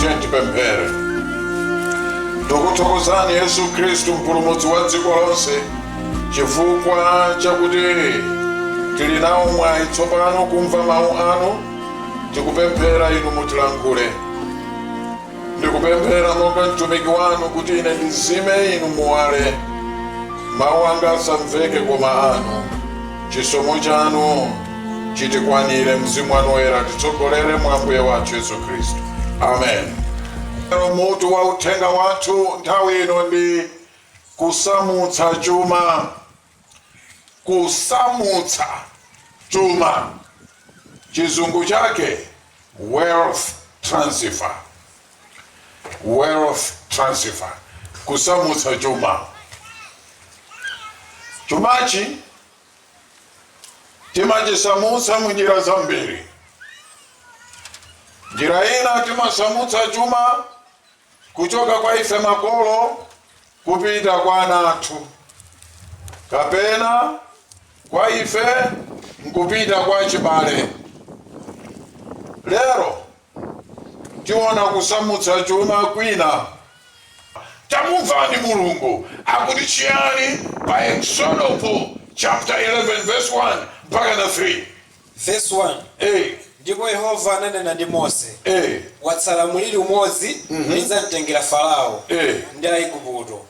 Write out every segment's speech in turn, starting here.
Tiyeni tipemphere. Tikuthokozani Yesu Khristu mpulumutsi wa dziko lonse chifukwa chakuti tili nawo mwayi tsopano kumva mawu anu tikupemphera inu mutilankhule ndikupemphera monga mtumiki wanu kuti ine ndizime inu muwale mawu anga asamveke koma anu chisomo chanu chitikwanire. Mzimu wanu Woyera atitsogolere mwa Ambuye wathu Yesu Khristu. Amen. Mutu wa uthenga wathu nthawi ino ndi kusamutsa chuma. Kusamutsa chuma, chizungu chake wealth transfer. Wealth transfer, kusamutsa chuma. Chumachi timachisamutsa mu njira zambiri njira ina timasamutsa chuma kuchoka kwa ife makolo kupita kwa ana athu kapena kwa ife nkupita kwa achibale lero tiona kusamutsa chuma kwina. Tamumvani Mulungu akuti chiyani pa Eksodopo chapter 11 verse 1 mpakana 3. Verse 1. Ndipo Yehova ananena ndi Mose, Watsala mliri umodzi ndidzamtengera Farao ndi Aigupto,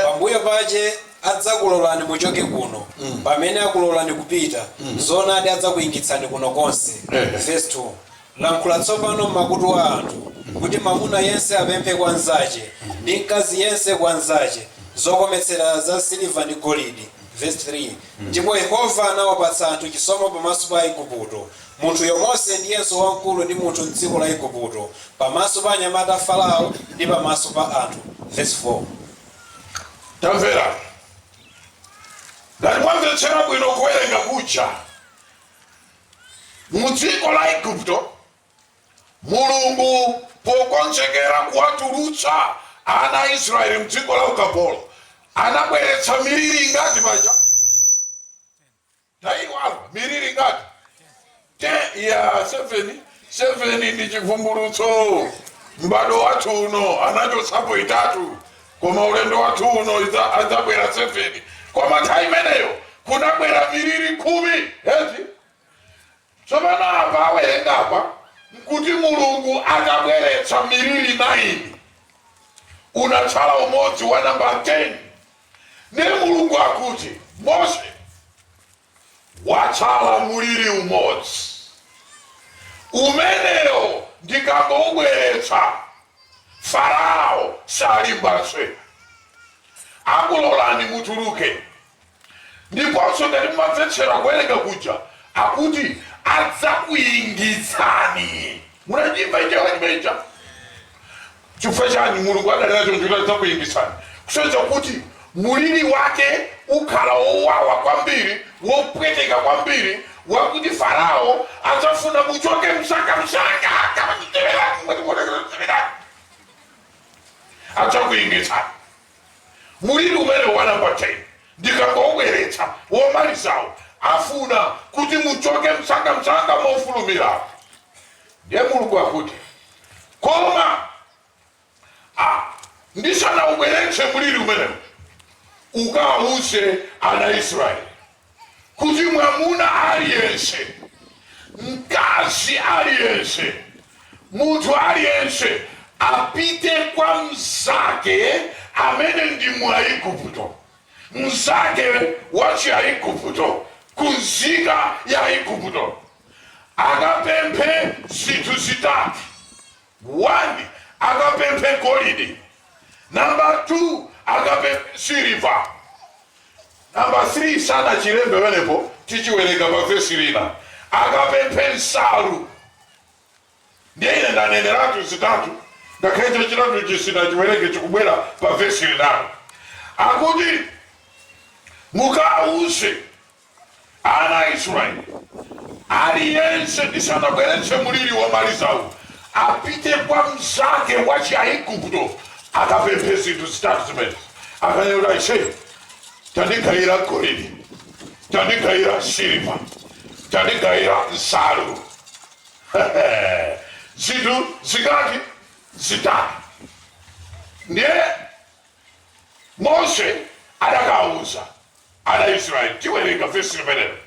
pambuyo pache adzakulolani muchoke kuno, pamene akulolani kupita, zoonadi adzakuingitsani kuno konse. Verse 2. Lankhula tsopano m'makutu a anthu, kuti mwamuna yense apemphe kwa mnzache, ndi mkazi yense kwa mnzache, zokometsera za siliva ndi golidi, vesi 3 Ndipo Yehova anawapatsa anthu chisomo pamaso pa Aigupto, munthuyo Mose ndiyenso wamkulu ndithu m'dziko la Aigupto, pamaso pa anyamata a Farao, ndi pamaso pa anthu, vesi 4 Tamvera, ngati mwamvetsera bwino kuwerenga kuja. mu dziko la igupto mulungu pokonzekera kuwatulutsa ana a israeli mdziko la ukapolo anabweretsa miliri ingati paja mwaiwala miliri ingati 10 ya 7 7 ndi chivumbulutso m'bado wathu uno anachotsapo itatu Koma ulendo wathu uno idza, adzabwera seveni. Koma nthawi imeneyo kunabwera miliri khumi. Eti tsopano apa awerengapa nkuti Mulungu atabweretsa miliri naini unatsala umodzi wa namba 10 ndiye Mulungu akuti Mose Watsala mliri umodzi. Umenewo ndikangoubweretsa, Farao salimbanso. Akulolani mutuluke. Ndiponso ngati mumamvetsera kuwerenga kuja, akuti adzakuingitsani. Munachimva icho chimene chija? Chifukwa chani? Mulungu adanena choncho kuti adzakuingitsani kusonyeza kuti mliri wake ukhala wowawa kwambiri, wopweteka kwambiri wakuti Farao adzafuna muchoke msangamsanga kapachitemerani adzakuingitsani mliri umene wa namba 10 ndikangowubweretsa womalizawu afuna kuti muchoke msangamsanga mofulumira Ndiye Mulungu akuti, Koma ndisanaubweretse mliri umenewu, ukawauze ana a Israeli kuti mwamuna aliyense, mkazi aliyense, munthu aliyense apite kwa mnzake amene ndi Mwaigupto, mnzake wa Chiaigupto, kwa nzika ya Igupto. akapemphe zinthu zitatu, 1 akapemphe golide, namba 2 akapemphe siliva, namba 3 sanachilembe pamenepo, tichiwerenga pa vesi lina, akapemphe nsalu. Ndiye ine ndaneneratu zitatu, ngakhale chachitatu ichi sitinachiwerenge, chikubwera pa vesi linalo. Akuti, Mukawauze ana a Israeli, aliyense ndisanabweretse mliri womalizawu, apite kwa mnzake wa Chiaigupto akapemphe zinthu zitatu zimenezi. Akanene kuti aise, tandigayira golide, tandigayira siliva, tandigayira nsalu. zinthu zingati zitatu ndiye mose adakawuza ana israeli tiwerenga vesi limenelo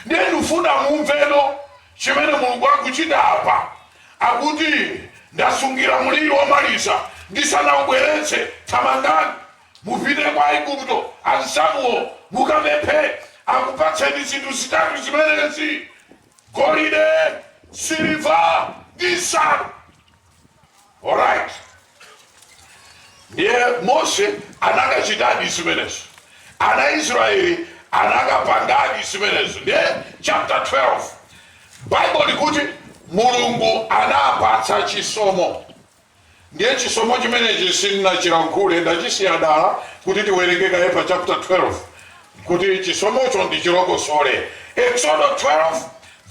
ndiye ndifuna mumveno chimene mulungu akuchita apa akuti ndasungira mliri womaliza ndisanawubweretse thamangani mupite kwa aigupto anzanuwo mukapemphe akupatseni zinthu zitatu zimenezi golide, siliva ndi nsalu alright ndiye mose anakachitadi zimenezo ana israeli anakapangadi zimenezo ndiye chapter 12 bible likuti mulungu anapatsa chisomo Ndiye chisomo chimenechi sindinachilankhule, ndachisiya dala kuti tiwerenge kaye pa chapter 12 kuti chisomocho ndichilongosole. Eksodo 12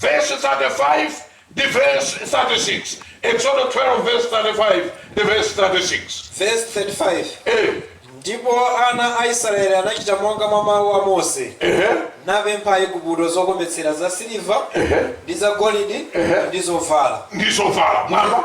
vesi 35 ndi vesi 36. Eksodo 12 vesi 35 ndi vesi 36. Vesi 35, Eh, Ndipo ana a Israele anachita monga mwa mau a Mose, ehe, napempha Aigupto zokometsera zasiliva, ehe. ndi zagolidi ndi zovala. ndi zovala mwamva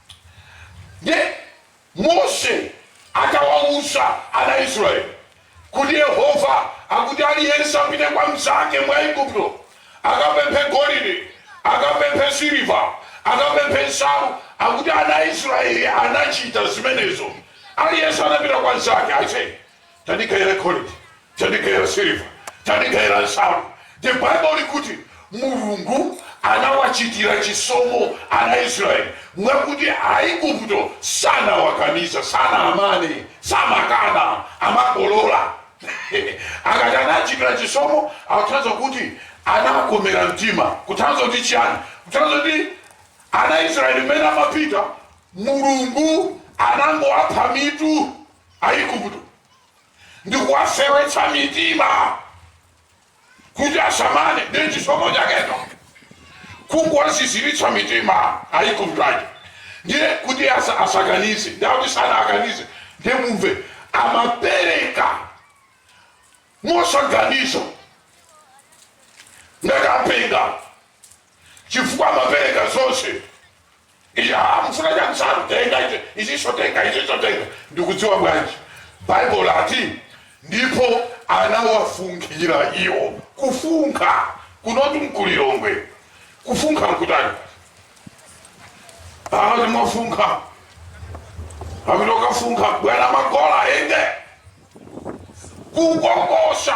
Ndiye Mose atawawuza ana a Israeli kuti Yehova akuti aliyense apite kwa mnzake mu Igupto akapemphe golide, akapemphe siliva, akapemphe nsalu, akuti ana a Israeli anachita zimenezo. Aliyense anapita kwa mnzake. Aise, tandigayira golidi, tandigayira siliva, tandigayira nsalu. The Bible likuti Mulungu anawachitira chisomo ana Israeli mwakuti Aigupto sanawakaniza, sanamane, samakana, amangolola akati anachitira chisomo akutanthauza kuti anawakomera mtima kutanthauza kuti chiyani kutanthauza kuti ana Israeli mmene amapita Mulungu anangowapha mitu Aigupto ndi kuwafewetsa mitima kuti asamane ndi chisomo chakecho kungowaziziritsa mitima Aigupto aja ndiye kuti asa, asakanize ndi akuti sanakanize ndiye mumve amapereka mosaganiza ngati apenga chifukwa amapereka zonse Eya, mufuna chani nsalu, tenga ichi, ichiso tenga, ichiso tenga. Ndikudziwa bwanji? Bible ati, ndipo anawafunkhira iwo. Kufunkha, kuno timu ku Lilongwe. Kufunkha nkutani? Amati mwafunkha. Amati okafunkha, bwera magola ende. Kukongosa,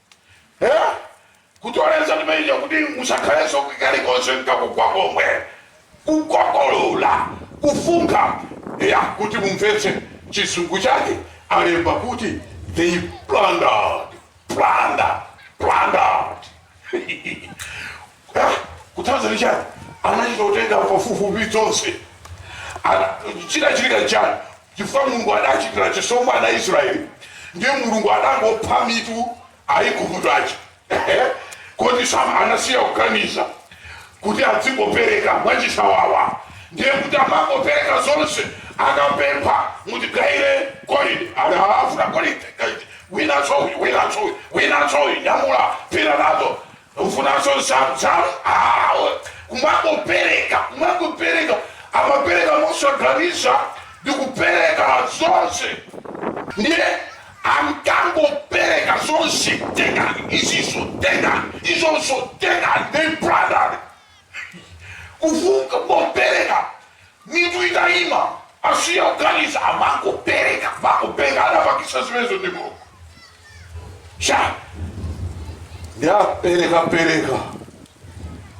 Eh? kutoleza timeija kuti musakhalenso kalikonse nkakugwa komwe kukokolola kufunkha ya kuti mumvetse chizungu chake alemba kuti they plundered plundered plundered Eh, kutanthauza chani anachita kutenga pafupifupi zonse Ana- chinachitika chani Chifukwa Mulungu adachitira chisomo ana Israel, ndiye Mulungu adangopha mitu Aiguputo aja kuti sam anasiya kukaniza kuti azingopereka mwachisawawa ndiye kuti amangopereka zonse akapempha mutigaire golide akufuna golide winanso uyu winanso uyu winanso uyu nyamula pita nazo ufunanso nsalu awo kumangopereka kumangopereka amapereka mosaganiza ndi kupereka zonse ndiye ankangopereka zonse tengani izizo tengani izonso tengani they brother kufunka kupeleka mitu itaima asiya kuganiza amangopeleka mangopeleka anapangisa zimenezo ndi mulungu sha ndapeleka peleka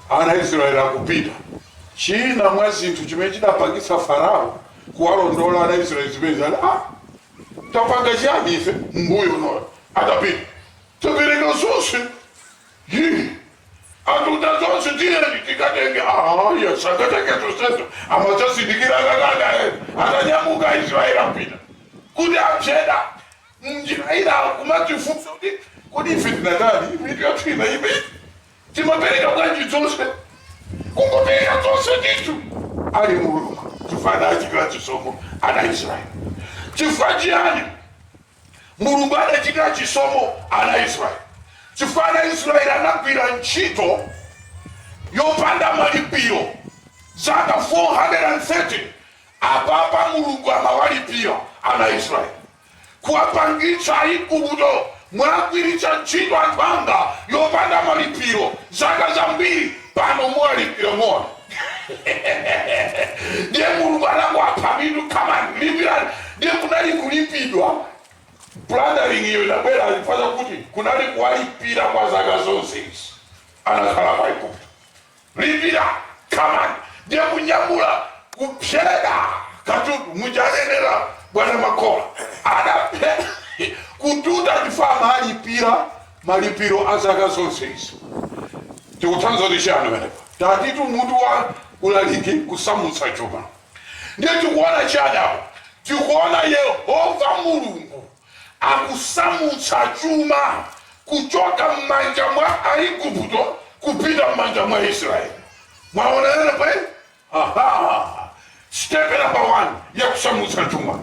ana israeli akupita china mwa zinthu chimene chidapangisa farao kuwalondola ana israeli zimenezi ah, tapanga chiyani ife mbuyomo iwo atapita tapereka zonse Hi! Atuta zonse tiyeni tikatenge. Ayi, sangatenge zonsezo. Amadzazindikira akakana ena. Atanyamuka Aisraeli apita. Kuti apseda m'njira iwo kumadzifunsa kuti kodi ife tinatani? Mitu yathu inaima. Timapereka bwanji zonse? Kungopereka zonse ndithu. Anali Mulungu chifukwa anachitira chisomo ana Israeli. Chifukwa chiyani? Mulungu adachitira chisomo ana a Israeli chifukwa ana a Israeli anagwira ntchito yopanda malipiro zaka 430, apapa Mulungu amawalipira ana a Israeli kuwapangitsa Aigupto mwagwiritsa ntchito anthu anga yopanda malipiro zaka zambiri. Pano muwalipira more ndiye mulungu anangowapha mitu come on lipirani ndiye kunali kulipidwa plundering iyo inabwera chifukwa chakuti kunali kuwalipira kwa zaka zonse izi anakhala pa igupto lipira come on ndiye kunyamula kupseda katundu mujanenera bwana makola anapseda kututa chifukwa amalipira malipiro a zaka zonse izi. Tikutanthauza kuti chiyani pamenepa? Tatitu mutu wa ulaliki, kusamutsa chuma. Ndiye tikuona chiyani apa? Tikuona Yehova Mulungu akusamutsa chuma kuchoka m'manja mwa Aigupto kupita m'manja mwa Aisraeli. Mwaona pamenepa? Hahaa! Step number 1 ya kusamutsa chuma,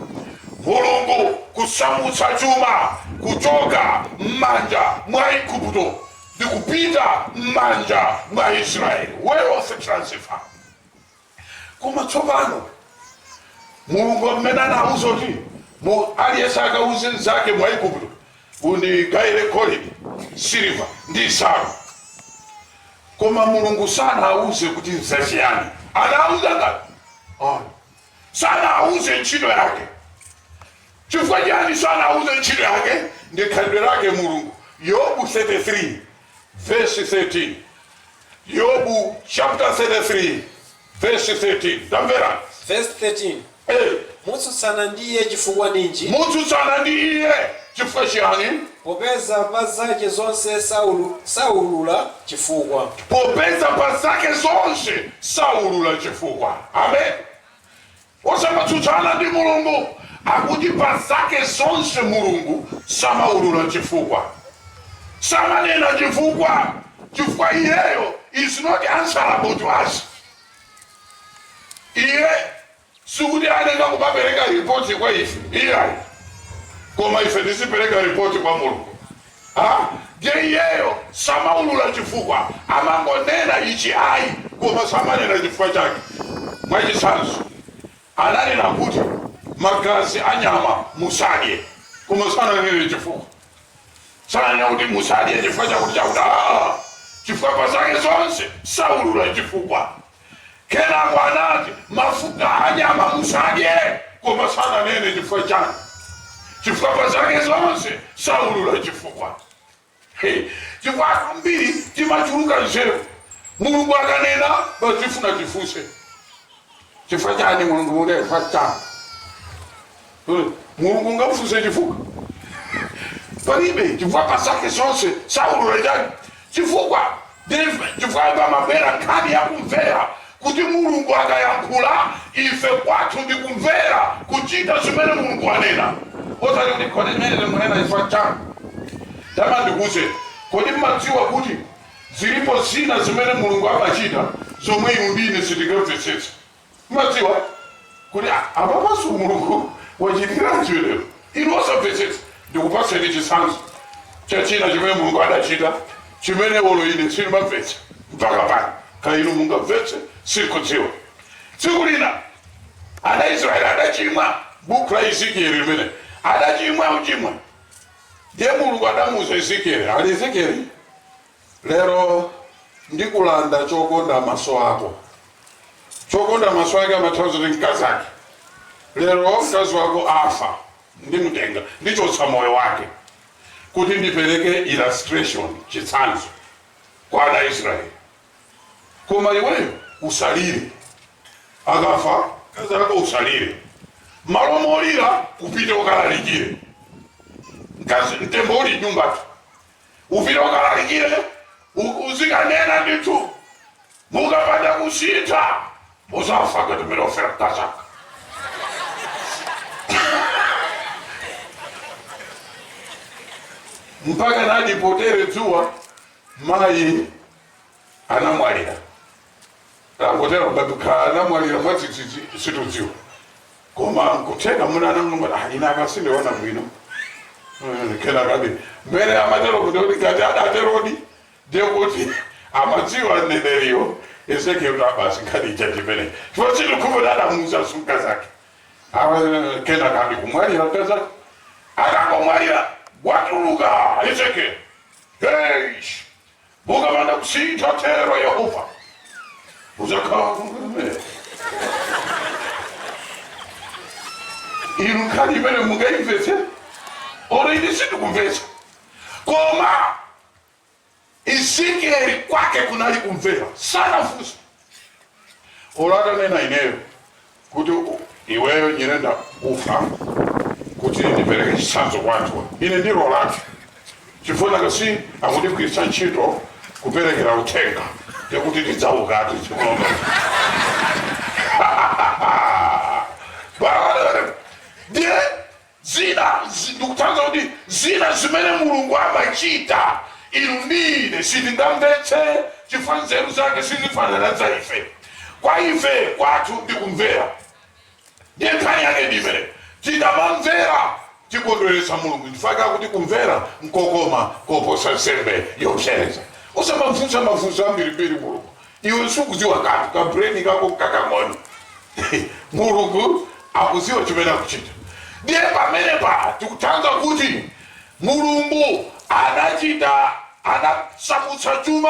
Mulungu kusamutsa chuma kuchoka mmanja mwa Aigupto ndi kupita mmanja mwa Aisraeli, wealth transfer. Koma tsopano Mulungu mmene anawuza kuti mu aliyense akawuze mzake Mwigupto, Undigaile golide, siliva ndi nsaru. Koma Mulungu sanauze kuti nzaciyani. Anauza ngati? Sanauze nchito yake. Cifukwa ciani sanauze nchito yake? Ndi khalidwe lake Mulungu. Yobu 33 vesi 13. Yobu chapter 33 Vesi 13. Tamvera. Vesi 13. Ee. Mutsutsana ndi Iye cifukwa ninji? Mutsutsana ndi Iye cifukwa ciani? Popeza pa zace zonse saulula cifukwa. Popeza pa zake zonse saulula cifukwa. Ameni. Osamatsutsana ndi mulungu akuti pa zake zonse mulungu samaulula chifukwa samanena chifukwa chifukwa iyeyo is not answerable to us iye sikuti angamapereke report kwa ife iyayi koma ife tizipereka report kwa mulungu Ha! Ndiye iyeyo samaulula chifukwa, amangonena ichi ayi, koma samanena chifukwa chake. Mwachitsanzo, ananena kuti, Magazi a nyama musadye, koma sananene chifukwa. Sananena kuti, Musadye chifukwa chakuti chakuti. Haa! Chifukwa pa zake zonse saulula chifukwa. Kenako anati, Mafuta a nyama musadye, koma sananene chifukwa chani, chifukwa pa zake zonse saulula chifukwa. Hey, chifukwa ambiri timachuluka nzeru, Mulungu akanena basi tifuna tifunse chifukwa chani Mulungu mune chifukwa chani Hmm. mulungu ungamfunse chifukwa palibe chifukwa pa zake zonse saulula chani chifukwa chifukwa apa pabwera nkhani yakumvera kuti mulungu akayankhula ife kwathu ndi kumvera kuchita zimene mulungu wanena osati kuti kodi zimene mukunena chifukwa chani tama ndikuuzeni kodi mmadziwa kuti zilipo zina zimene mulungu amachita zomwe inu ndi ine sitingamvetsetse Mumadabwa kuti a, apapanso Mulungu wachitiranji chimenecho? Inu osamvetsetsa, ndikupatseni chitsanzo cha china chimene Mulungu adachita, chimene olo ine sindimamvetsa mpaka pano. Kaya inu mungamvetse, sindikudziwa. Tsiku lina ana a Israele adachimwa, bukhu la Ezekiele limene, adachimwa, ochimwa. Ndiye Mulungu adamuuza Ezekiele, ali Ezekiele? Lero ndikulanda chokonda maso ako. Chokonda maso ake amatanthauza kuti mkazi ake. Lero mkazi wako afa, ndimutenga, ndichotsa moyo wake kuti ndipereke illustration, chitsanzo kwa ana a Israeli. Koma iweyo usalire, akafa mkazi ako usalire, malo molira upite ukalalikire. Mkazi mtembo uli m'nyumbatu, Upite ukalalikire, uzikanena ndithu. Mukapanda kusintha muzafa ngati mmene wafera mkazanga. mpaka ndi polowa dzuwa mayi anamwalira tangotera kubatukha anamwalira mwadzidzidzi situdziwa koma kutheka mwina anangoti ah ina akazi sindiona bwino Mm, kenaka basi mbere amatero kuti kuti ngati adaterodi ndiye kuti amadziwa mneneriyo ezekiel kuti a basi nkhani ija yachitika chifukwa chilichonse kuti adamuuza sunga zake awa kenaka basi kumwalira mkazake akangomwalira watuluka ezekiel hey Mukapanda kusintha, atero Yehova, mudzakhala m'gulu limenelo. Inu nkhani imeneyi mungaimvetse? Olo ine sindikumvetsa. Koma Ezekieli kwake kunali kumvera, sanafunse. Olo atanena ineyo kuti iweyo Nyirenda ufa kuti ndipereke chitsanzo kwa anthuwa, ine ndiloratu chifukwa nanga si akundigwiritsa ntchito kuperekera uthenga, ndiye kuti ndidzaukatu tsiku lomwelo. Bwana, ndiye Zina, ndikutanthauza kuti zina zimene Mulungu amachita inu ndi ine sitingamvetse chifukwa nzeru zake sizifanana ndi zaife. Kwa ife kwathu ndi kumvera ndiye nkhani yake ndi imeneyo. Tikamamvera tikondweretsa Mulungu chifukwa chakuti kumvera nkokoma koposa nsembe yopsereza. Osamamufunsa mafunso ambirimbiri Mulungu Iwe sukudziwa kanthu, ka brain kako nkakang'ono. Mulungu akudziwa chimene akuchita. Ndiye pamenepa tikutanthauza kuti Mulungu anachita anasamutsa chuma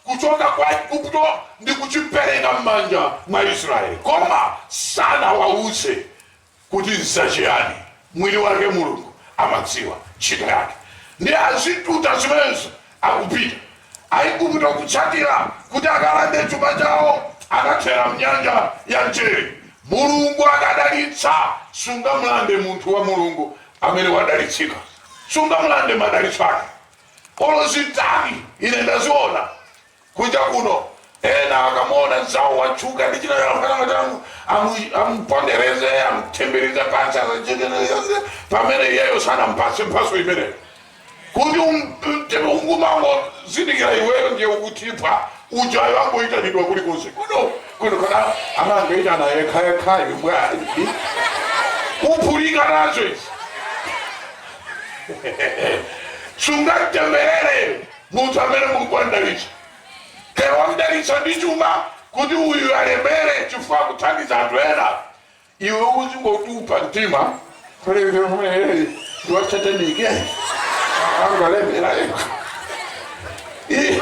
kuchoka kwa Igupto ndi kuchipereka m'manja mwa Israeli, koma sanawauze kuti nzachiyani, mwini wake Mulungu amadziwa ntchito yake, ndiye akututa zimenezo akupita. Aigupto kutsatira kuti akalande chuma chawo anathera mnyanja ya mchere. Mulungu akadalitsa, sungamulande munthu wa Mulungu amene wadalitsika, sungamulande madalitso ake. Olo zitani, ine ndaziona Kunja kuno, ena akamuona mzawo watchuka ndi china chake, amati amu, amu, amupondereze, amupondereza pansi, asachekeneze, pamene iyeyo sanampatse mphatso imeneyo. Kuti um- um- ungumangozindikira iweyo ndiye ukutipha ujayo angoyitanidwa kulikonse kuno kuno kana amangoyitana yekhayekhayo bwanji kuphulika nazo izi sungatemberere Munthu amene Mulungu wamdalitsa. Pena wamdalitsa ndi chuma kuti uyu alemere chifukwa akuthandiza anthu ena iwe uzingotupa mtima ndi wachiyani iye angalemera yekha Ih,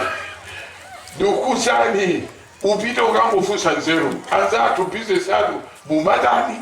ndikukuuzani upite ukangofunsa nzeru anzathu bizinesi anu mumatani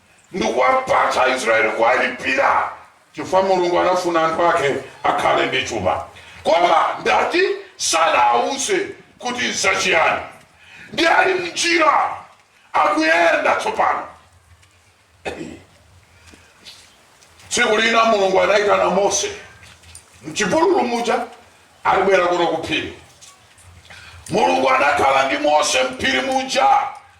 ndikuwapatsa Aisraeli kuwalipira chifukwa Mulungu anafuna anthu ake akhale ndi chuma. Koma ndati sanawawuze kuti nzachiyani. Ndi ali m'njira akuyenda tsopano. Tsiku lina Mulungu anayitana Mose m'chipululu muja ati bwera kuno ku phiri. Mulungu anakhala ndi Mose m'phiri muja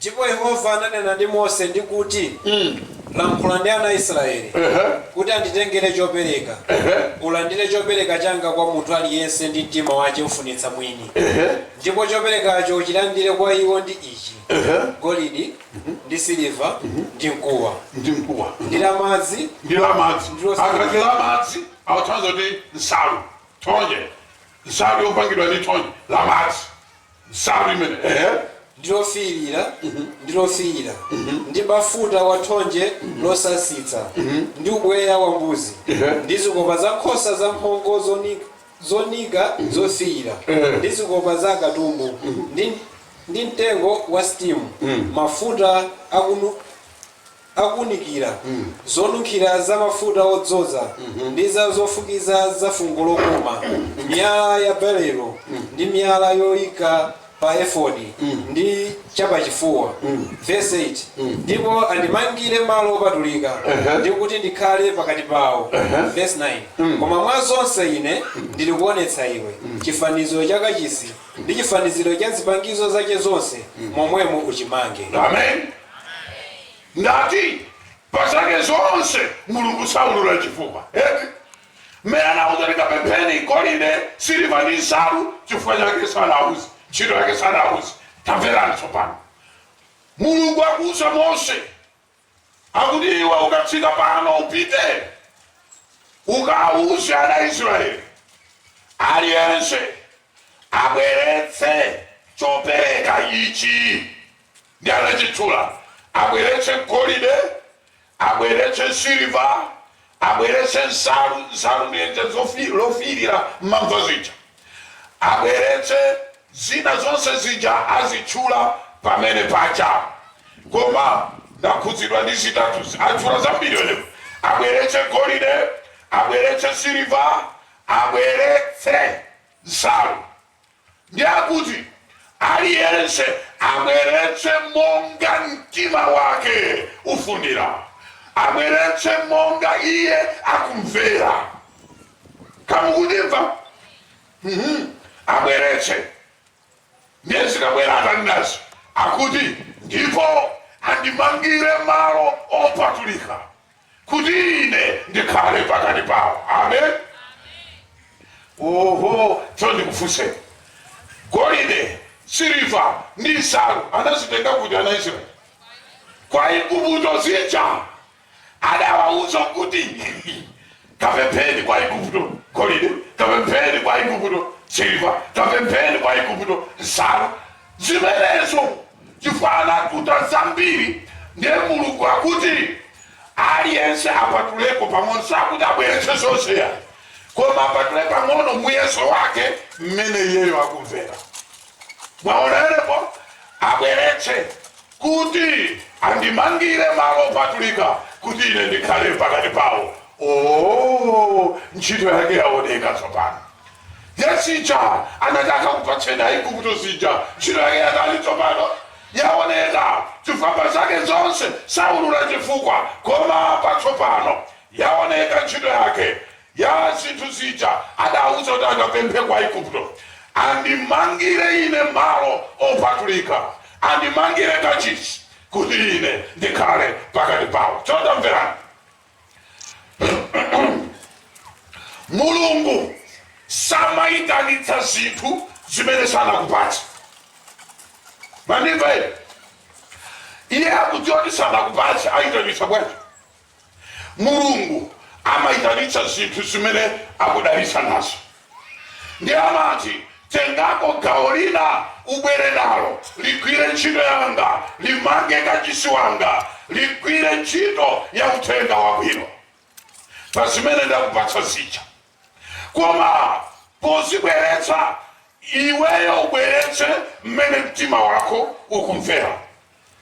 Ndipo Yehova ananena ndi Mose, ndi kuti, Lankhula ndi ana a Israyeli, kuti anditengere copereka, ulandire copereka canga kwa munthu ali yense mtima wace ufunitsa mwini, ndipo coperekaco ucilandire kwa iwo ndi ici, golidi, ndi siliva, ndi mkuwa, ndi mkuwa ndi la madzi, akati la madzi akutanthauza kuti nsalu ya thonje nsalu yopangidwa ndi thonje la madzi nsalu imene, ehe. ndi lofiirira, ndi lofiira, ndi bafuta wa thonje losasitsa, ndi ubweya wa mbuzi, Ehe. ndi zikopa za nkhosa zamphongo zoni- zonika zofiira, Ehe. ndi zikopa za akatumbu, ndi, ndi mtengo wa sitimu, mafuta akunu, akuunikira, zonunkhira za mafuta odzoza, ndi za zofukiza za fungo lokoma, miyala ya berilo, ndi miyala yoika pa efodi, ndi chapachifuwa. Vesi 8, Ndipo andimangire malo opatulika, ndi kuti ndikhale pakati pawo. Vesi 9, Monga mwa zonse ine ndilikuonetsa iwe chifaniziro cha kachisi, ndi chifaniziro cha zipangizo zache zonse, momwemo uchimange. Amen. ndati pa zake zonse mulungu saulula chifukwa eti mmene anauza kuti kapempheni golide siliva ndi nsalu chifukwa chake sanauze ntchito yake sanauze tamverani tsopano mulungu akuuza mose akuti iwe ukatsika pano upite ukauze ana israeli aliyense abweretse chopereka ichi ndi anachitchula, abweretse golide, abweretse siliva, abweretse nsalu, nsalu ndi lenje lofiirira m'mamva zija, abweretse zina zonse zija azitchula pamene paja. Koma ndakhudzidwa ndi zitatuzi, atchula zambiri onepo, abweretse golide, abweretse siliva, abweretse nsalu. Ndi akuti, Aliyense abweretse monga mtima wake ufunira, abweretse monga iye akumvera. Ka mukundimva? Mhm. Abweretse. Ndiye zikabwera atani nazo, akuti, ndipo andimangire malo opatulika. kuti ine ndikhale pakati pawo amen oho tsono ndikufunseni golide siliva ndi nsalu anazitenga kuti ana israeli kwa igupto zija adawauza kuti kapempheni kwa igupto golide kapempheni kwa igupto siliva kapempheni kwa igupto nsalu zimenezo chifukwa anatuta zambiri ndiye mulungu akuti aliyense apatuleko pang'ono sakuti abweretse zonse yayi koma apatule pang'ono muyeso wake mmene iyeyo akumvera mwaonerepo abweretse kuti andimangire malo opatulika kuti ine ndikhale pakati pawo o ntchito yake yaoneka tsopano ya zija anati akakupatseni Aigupto zija, ntchito yake yatani tsopano? Yaoneka, chifukwa pa zake zonse saulula chifukwa, koma apa tsopano yaoneka ntchito yake ya zinthu zija adauza kuti akapemphe kwa Aigupto, andimangire ine malo opatulika, andimangire kachisi, kuti ine ndikhale pakati pawo. Cho tamverani. mulungu samayitanitsa zinthu zimene sanakupatsa mwandimva iye akudziwa kuti sanakupatsa ayitanitsa bwanji mulungu amayitanitsa zinthu zimene akudalitsa nazo Ndiye anati, Tengako gawo lina ubwere nalo, ligwire ntchito yanga, limange kachisi wanga, ligwire ntchito ya uthenga wabwino pa zimene ndakupatsa zija. Koma pozibweretsa, iweyo ubweretse mmene mtima wako ukumvera.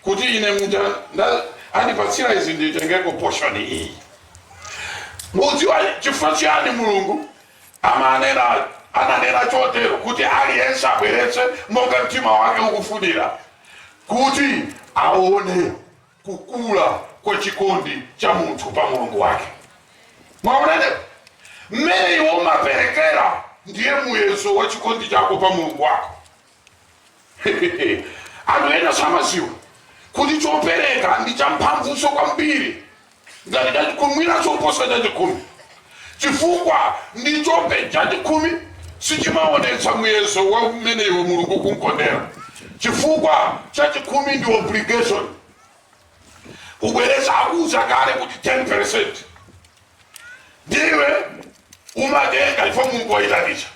kuti ine mmene andipatsira izi nditengeko portion iyi mudziwa chifukwa chiyani mulungu amanena ananena chotero kuti aliyense abweretse monga mtima wake ukufunira kuti aone kukula kwa chikondi cha munthu pa mulungu wake mwaona mmene iwe umaperekera ndiye muyeso wa chikondi chako pa mulungu wako anthu ena samaziwa kuti chopereka ndi champhamvunso kwambiri ngati chachikhumi mwina choposa chachikhumi chifukwa ndi chope chachikhumi sichimaonetsa muyezo wa mmene iwe mulungu ukumkondera chifukwa chachikhumi ndi obligation kubwereza akuza kale kuti 10 ndiye umatenga iyo mulungu wayitanisa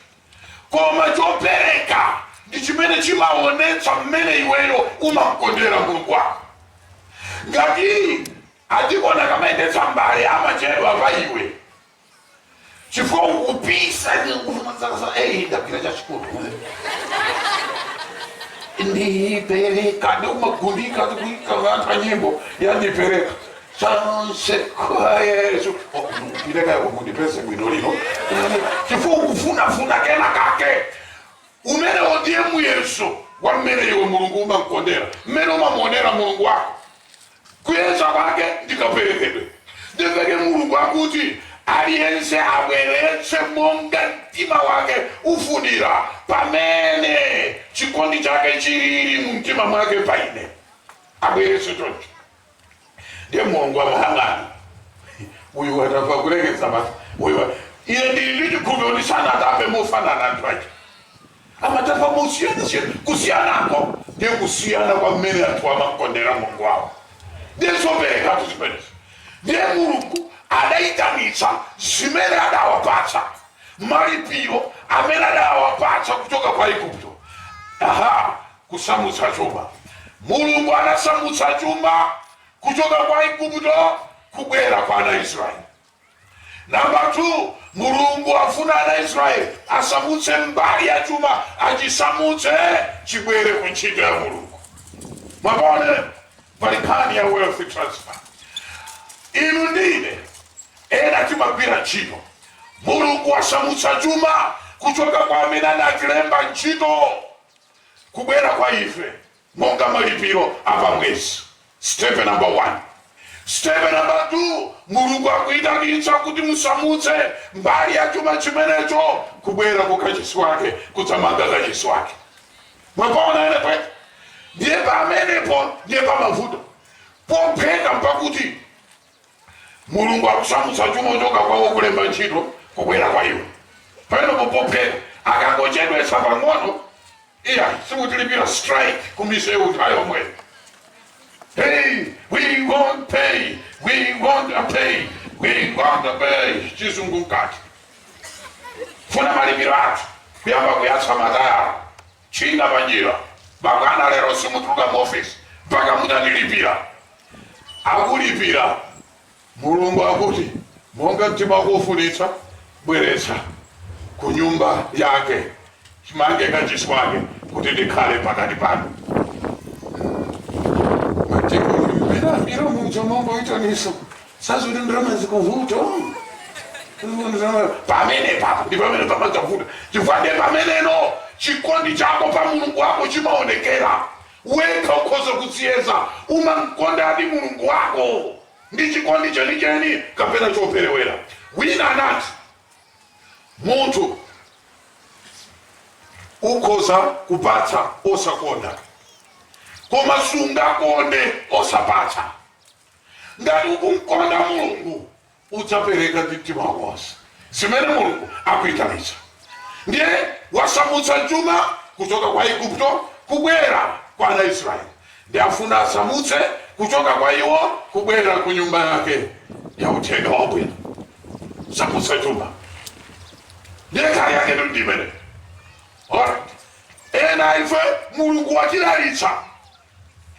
Koma chopereka ndi chimene chimawonetsa mmene iweyo umamkondera Mulungu wako. Ngati adikoni akamayendetsa mbale amachedwa pa iwe chifukwa ukupisa ndi kufunafuna eyi ndagwira chachikulu ndipereka ndiye umagundika ndikuika anthu a nyimbo ya ndipereka zonse kwa yesu Oh, ndipereka mundipeze bwinobwino chifukwa ukufunafuna kena kake umenewo ndiye muyeso wa mmene iwe mulungu umamkondera mmene umamuonera mulungu wako kuyesa kwake ndi kaperekedwe n'chifukwa chake mulungu akuti aliyense abweretse monga mtima wake ufunira pamene chikondi chake chilili mu mtima mwake pa ine abweretse choncho ndiye mulungu amayang'ana uyu watapa kulekeza basi uyu wa- iye ndili ndi chikhulupiriro sanatape mofanana anthu ake amatapa mosiyanasiyana kusiyanako ndiye kusiyana kwa mmene anthu amakondera mulungu wawo ndiye zoperekatu zimenezi ndiye mulungu adayitanitsa zimene adawapatsa malipiro amene adawapatsa kuchoka kwa aigupto aha Kusamutsa chuma. Mulungu anasamutsa chuma kuchoka kwa Aigupto kubwera kwa ana Israel. Number 2, Mulungu afuna ana Israel asamutse mbali ya chuma, achisamutse chibwere ku ntchito ya Mulungu. Mwaona pali nkhani ya wealth transfer. Inu ndine ena timagwira ntchito, Mulungu asamutsa chuma kuchoka kwa amene anatilemba ntchito kubwera kwa ife monga malipiro a pa mwezi. Step number 1. Step number 2, Mulungu akuyitanitsa kuti musamutse mbali ya chuma chimenecho kubwera ku kachisi wake, kudzamanga kachisi wake. Mwapaona ene pwete? Ndiye pamenepo ndiye pamavuto popheka mpakuti mulungu akusamutsa chuma kuchoka kwa wokulemba ntchito kubwera kwa iwe pamenepo popheka akangochedwetsa pang'ono iya sikutilipira strike kumisewu nthawi yomweyo Hey, we want pay. We want pay. We want pay. Chizungu mkati. Funa malipiro athu. Kuyamba kuyatsa matayala. Tchinga panjira, pakana lero simutuluka mu office mpaka mutatilipira. Akulipira, Mulungu akuti, Monga mtima wako ufunitsa, bweretsa ku nyumba yake, mumange kachisi wake, kuti ndikhale pakati panu. Matiko inu mmene amira muja mongoitanitsa sazi kuti ndalama zikuvuta pamenepapo ndi pamene pamadzavuta chifukwa ndi pameneno chikondi chako pa mulungu wako chimaonekera wekha ukhoza kudziyeza umamkondadi mulungu wako ndi chikondi chenicheni kapena choperewera wina anati munthu ukhoza kupatsa osakonda koma sungakonde osapatsa Ngati ukumkonda Mulungu, udzapereka ndi mtima wako wonse zimene Mulungu akuitanitsa. Ndiye wasamutsa chuma kuchoka kwa Aigupto kubwera kwa ana a Israele, ndiye afuna asamutse kuchoka kwa iwo kubwera ku nyumba yake ya uthenga wabwino. Samutsa chuma ndiye kali yake ndi ndi imene. Alright. Ena ife Mulungu watidalitsa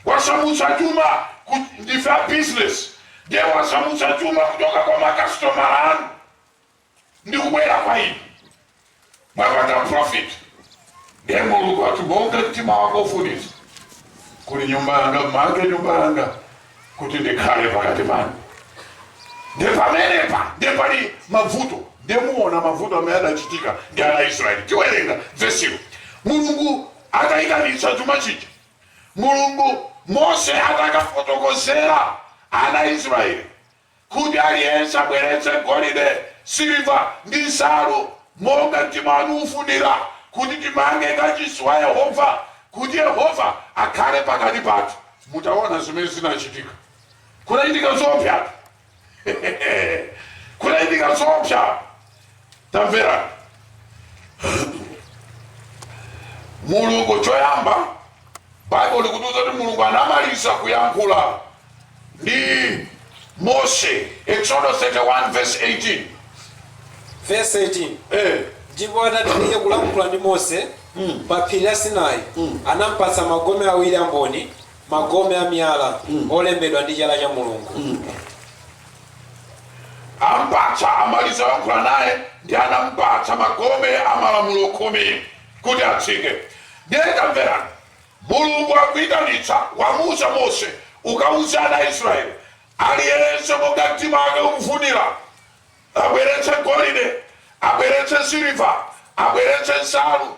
wasamutsa chuma ndife a business ndiye wasamutsa chuma kuchoka kwa makasitomala anu ndi kubwera kwa inu mwapata profit ndiye mulungu ati monga mtima wako ufunitsa kuli nyumba yanga mmange nyumba yanga kuti ndikhale pakati panu ndi pamenepa ndiye pali mavuto ndiye muona mavuto amene adachitika ndi ana israeli tiwerenga vesilo mulungu ataitanitsa chuma chija, Mulungu, Mose atakafotokozera ana a Israeli kuti aliyense abweretse golide, siliva ndi nsalu monga mtima wanu ufunira kuti timange kachisi wa Yehova kuti Yehova akhale pakati pathu. Mutaona zimene zinachitika, kunachitika zoopsyatu. kunachitika zoopsa tamverani mulungu choyamba baibulo likutiuza kuti mulungu anamaliza kuyankhula ndi mose exodo 31 verse 18 verse 18 eh, ndipo atatha iye kulankhula ndi mose pa phiri la sinai anampatsa magome awiri a mboni magome a miyala olembedwa ndi chala cha Mulungu. ampatsa amaliza kulankhula naye ndi anampatsa magome a malamulo khumi kuti atsike ndiye tamverani mulungu akuyitanitsa wamuuza mose ukauze ana a israeli aliyense monga mtima wake ukufunira abweretse golide abweretse siliva abweretse nsalu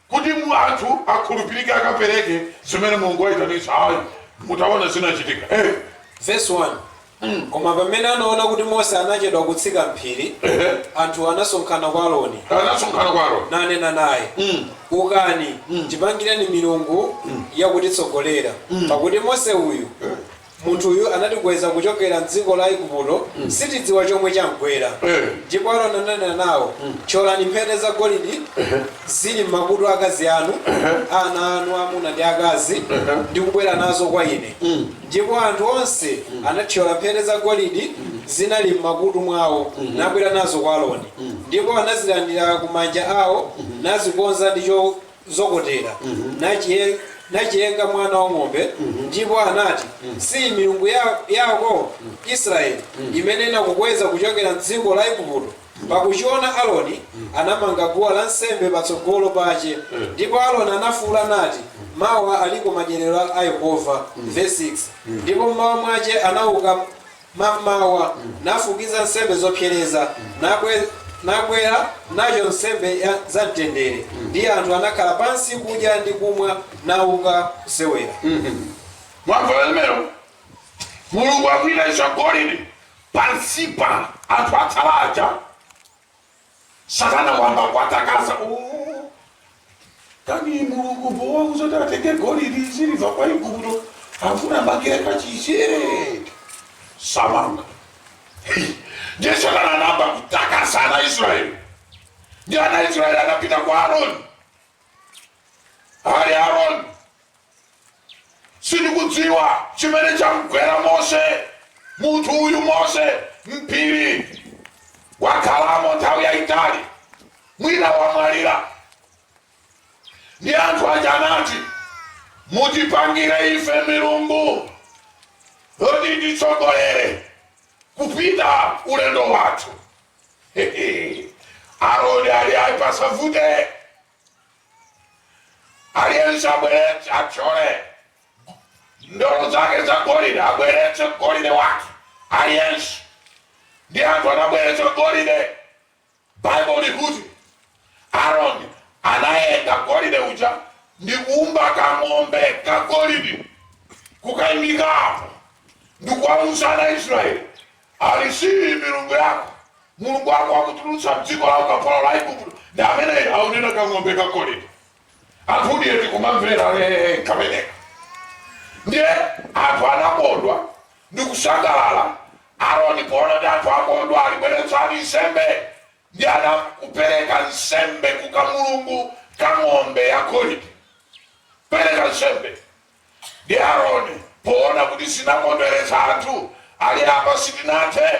kuti anthu okhulupirika akapereke zimene mulungu wayitanitsa ayi mutaona zinachitika eh. Verse 1 mm. Koma pamene anaona kuti Mose anachedwa kutsika mphiri eh. anthu anasonkhana kwa Aroni anasonkhana kwa Aroni nanena naye mm. ukani mm. tipangireni milungu mm. yakutitsogolera mm. pakuti Mose uyu eh. Munthu uyu anatikweza kuchokera m'dziko la Igupto, sitidziwa chomwe chamgwera. Eh. Ndipo Aroni ananena nawo, Thyolani mphete zagolidi zili m'makutu a akazi anu, a ana anu aamuna ndi aakazi, ndi kubwera nazo kwa ine. Ndipo anthu onse anathyola mphete zagolidi zinali m'makutu mwawo, nabwera nazo kwa Aroni. Ndipo anazilandira ku manja awo, nazikonza ndi cho- zokotera, nachiye- nachiyenga mwana wa ng'ombe ndipo anati siyi milungu ya- yako israeli imene inakukweza kuchokera mdziko la igupto pakuchiona aroni anamanga guwa la nsembe patsogolo pache ndipo aroni anafuula nati mawa aliko madyerero a yehova verse 6 ndipo mmawa mwache anauka mam'mawa, nafukiza nsembe zopsereza, nabwe- nabwera nazo nsembe ya- za mtendere, ndi anthu anakhala pansi kudya ndi kumwa, nauka kusewera. mwamva limenelo mulungu akuitanitsa golide pansipa anthu atsala aja satana wayamba kuwatakasa "Oh, kani mulungu powauza zoti atenge golidi siliva kwa aigupto afuna amangire kachisi ee samanga ndiye satana anayamba kutakasa ana israeli ndi ana israeli anapita kwa aroni ali aroni Sindikudziwa chimene chamgwera Mose, munthu uyu Mose, m'phiri, wakhalamo nthawi yayitali, mwina wamwalira. Ndi anthu aja anati, Mutipangire ife milungu yoti ititsogolere kupita ulendo wathu. Aroni ali ayi pasavute. Aliyense abweretse, athyole ndolo zake za golide, abweretse golide wake aliyense. Ndi anthu anabweretsa golide. Bible likuti Aroni anayenga golide uja ndi kuumba kang'ombe ka golide kukaimikapo ndi kuwauza ana Israeli Ali siyi milungu yako? Mulungu wako wakutulutsa m'dziko la ukapolo la Aigupto ndi ameneyo, akunena kang'ombe kagolidi. Anthudi eti kumamvera ee kameneka. Ndiye anthu anakondwa ndi kusangalala. Aroni poona kuti anthu akondwa, ali bweretsani nsembe. Ndiye anakupereka nsembe ku kamulungu ka ng'ombe yagolidi. Pereka nsembe, ndi Aroni poona kuti zinakondweretsa anthu ali apa sitinathe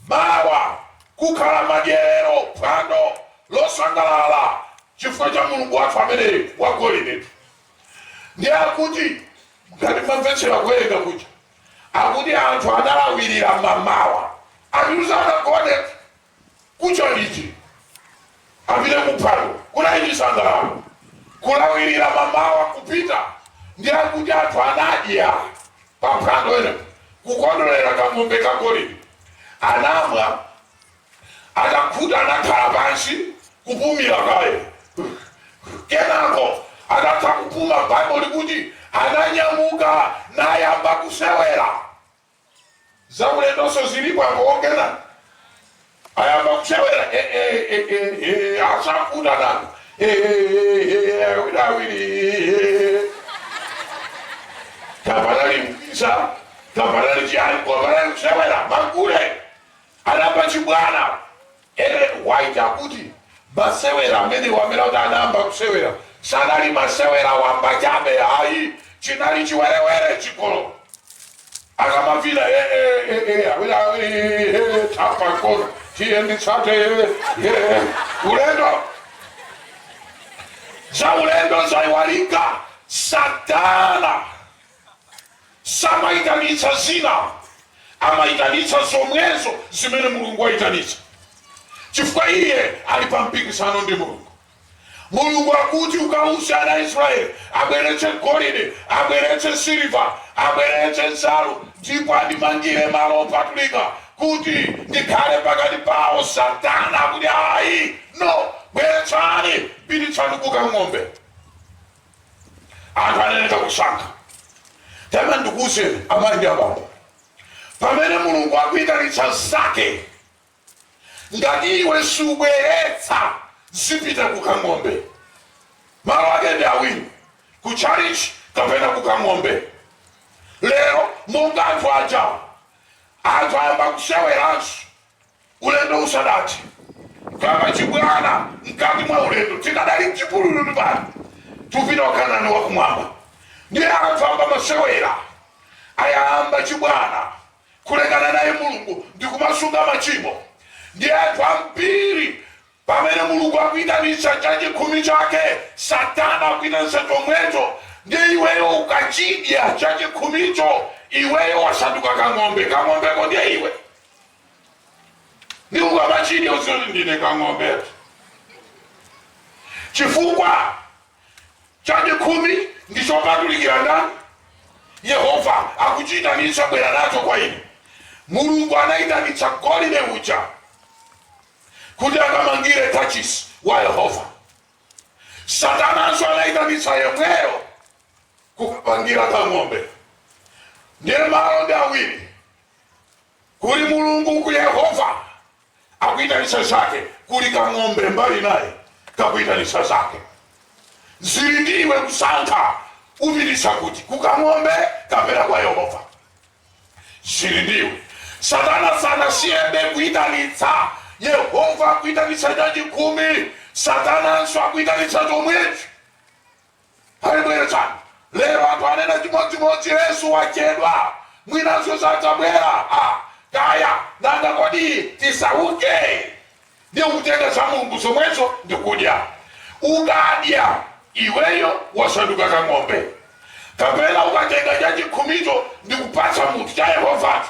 mawa kukhala madyerero phwando losangalala chifukwa cha mulungu wathu ameneyu wa golide ndi akuti ngati mwamvetsera kuwerenga kuja akuti anthu analawirira mamawa ati sanagone kucha liti, apite ku phwando, kunali chisangalalo, kulawirira mamawa, kupita ndi akuti anthu anadya pa phwando ena, kukondwerera kang'ombe kagolide, anamwa, atakhuta anakhala pansi kupumira kaye kenako atatha kupuma bible likuti ananyamuka nayamba kusewera zaulendonso zilipo apo ongena ayamba kusewera eh, eh, eh, eh, eh, asafuta nanu Eh, eh, eh, eh, awiri awiri eh. tapanali mkisa tapanali chiyani kwapanali kusewera magule anapa chibwana Ellen White akuti, Masewera amenewa amene akuti anayamba kusewera sanali masewera wamba chabe ayi, chinali chiwerewere, chigololo. Akamavina, eh, eh, eh, eh, awiri awiri, eh, eh, thapa mkono, tiye nditsate, eh, eh, eh, ulendo za ulendo zaiwalika satana Samaitanitsa zina, amaitanitsa zomwezo zimene Mulungu waitanitsa, chifukwa iye ali pa mpikisano ndi Mulungu. Mulungu akuti, ukauza ana a Israele abweretse golide, abweretse siliva, abweretse nsalu, ndipo andimangire malo opatulika, kuti ndikhale pakati pao. Satana akuti, Ayi! No! Bweretsani! Pititsani kukang'ombe! anthu aneneka kusankha tamani ndikuuzeni amayi ndi abambo pamene mulungu akuitanitsa zake ngati iwe subweretsa zipita kukang'ombe malo ake ndi awiri ku chalichi kapena kukang'ombe lero monga anthu aja anthu ayamba kuseweranso Ulendo usadathe, kuyamba chibwana mkati mwa ulendo, tikadali mchipululu tu pano, tikupita ku Kanani wa Kumwamba. Ndiye anthu ayamba masewera, ayamba chibwana kulekana naye Mulungu ndi kumasunga machimo. Ndiye anthu ambiri pamene Mulungu akuitanitsa chachikhumi chake, Satana akuitanitsa chomwecho. Ndiye iweyo ukachidya chachikhumicho, iweyo wasanduka kang'ombe. Kang'ombeko ndiye iwe. ndi ukamachidya udziwe kuti ndine kang'ombe chifukwa chachikhumi ndi chopatulikira ndani yehova akuchiyitanitsa bwera nacho kwa ine mulungu anayitanitsa golide uja kuti akamangire kachisi wa yehova satananso anayitanitsa yemweyo kukapangira kang'ombe ndiye malo ndi awiri Kuli Mulungu uku Yehova akuitanitsa zake, kuli kang'ombe mbali naye kakuitanitsa zake. Zili ndi iwe kusankha upititsa kuti, kukang'ombe kapena kwa Yehova. Zili ndi iwe. Satana sanasiyebe kuitanitsa. Yehova akuitanitsa chachikhumi, Satananso akuitanitsa chomwecho. abweretsani lero anthu anena chimodzimodzi yesu wachedwa mwinanso sadzabwera ah, kaya nanga kodi tisauke ndiye kutenga za mulungu zomwezo ndikudya ukadya iweyo wasanduka ka ng'ombe kapena ukatenga chachikhumicho ndikupatsa munthu cha yehovacho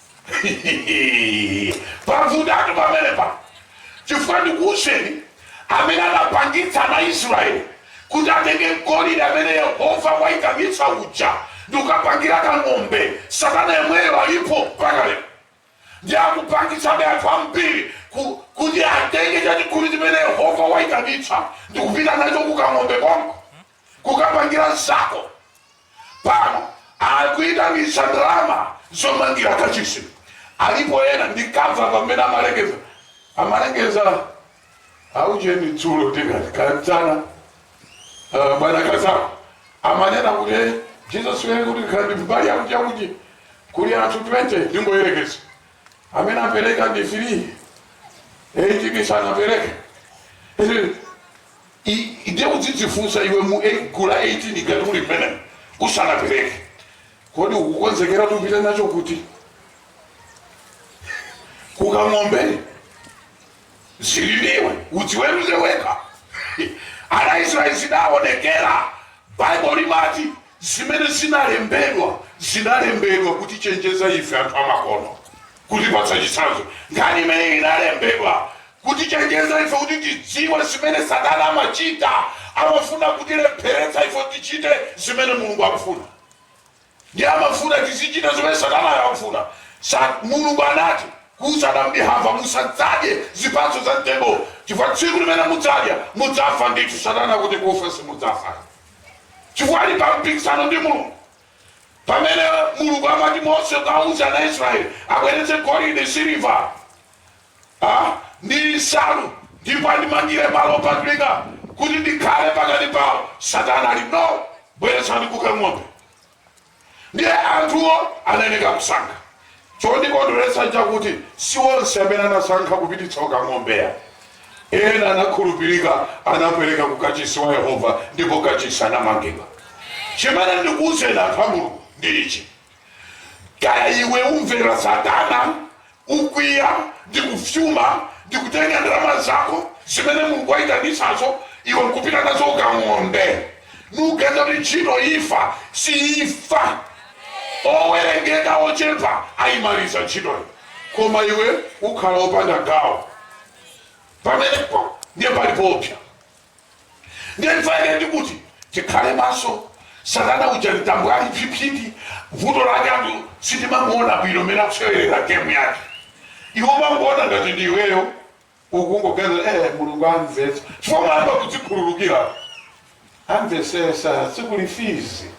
pavutatu pamenepo chifukwa ndikuwuzeni amene anapangitsa ana israeli kuti atenge golide amene yehova wayitanitsa uja ndikukapangira kang'ombe satana yemweyo alipo mpaka lero ndiye akupangitsabe anthu ambiri ku- kuti atenge chachikhumi chimene yehova wayitanitsa ndikupita nacho kukang'ombe konko kukapangira zako pano akuitanitsa ndalama zomangira kachisi alipo ena ndikamva pamene amalengeza amalengeza aujeni dzulo tikati kanzana uh, bwana kazako amanena kuti "Eh, jesus wene kuti kandi mbali yakuti yakuti kuli anthu 20 ndingoyerekeza amene apereka ndi 3 18 sanapereke I, ndiye udzidzifunsa iwe mu ei- gulu la 18 ngati uli mmenemo usanapereke kodi ukukonzekera upite nacho kuti kukang'ombe zili ndiwe udziweruze wekha ana israeli zidaonekera baibo limati Zimene zinalembedwa zinalembedwa kutichenjeza ife anthu amakono, kutipatsa chitsanzo. Nkhani imeneyi inalembedwa kutichenjeza ife kuti tidziwe zimene Satana amachita. Amafuna kutilepheretsa ife kuti tichite zimene Mulungu akufuna. Ndiye amafuna tizichita zimene Satanayo akufuna. Sa, Mulungu anati, kuuza Adamu ndi Hava, Musadzadye zipatso za mtengowo, chifukwa tsiku limene mudzadya, mudzafa ndithu. Satana akuti, Kufa simudzafa ayi. chifukwa ali pa mpikisano ndi mulungu pamene mulungu amati mose ukawuze ana israeli abweretse golide siliva ah, ndi nsalu ndipo andimangire malo opatulika kuti ndikhale pakati pawo satana ali no bweretsani kukang'ombe ndiye anthuwo anayeneka kusankha chondikondweretsa chakuti si onse amene anasankha kupititsa kukang'ombe ya ena anakhulupirika anapereka ku kachisi wa yehova ndipo kachisi anamangidwa chimene ndikuuzeni anthu a mulungu ndi ichi kaya iwe umvera satana ukwiya ndi kufyuma ndi kutenga ndalama zako zimene mulungu wayitanitsazo iwe nkupita nazo kukang'ombe nuganiza kuti ntchito ifa siifa owerengeka ochepa ayimaliza ntchitoyo koma iwe ukhala opanda gawo pamenepo ndiye pali poopsa ndiye chofunika ndi kuti tikhale maso satana uja mtambo ali psipsiti vuto lake anthu sitimamuona bwino mene akusewerera gemu yake iwe umangoona ngati ndi iweyo ukungoganiza eh, mulungu amvetsa chifukwa umayamba kudzikhululukira amvesesa sukulu fizi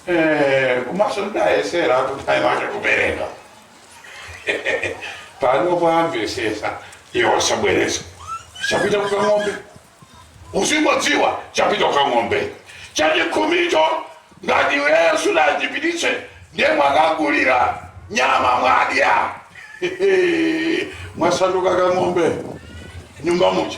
Eh, komanso ndidayesera kuti mayi wake kubwereka pano amvesesa iwo sabwereza chapita kukang'ombe uzingodziwa chapita kukang'ombe chachikhumicho ngati iweyo sudachipititse ndiye mwakagulira nyama mwadya mwasanduka kang'ombe m'nyumba muja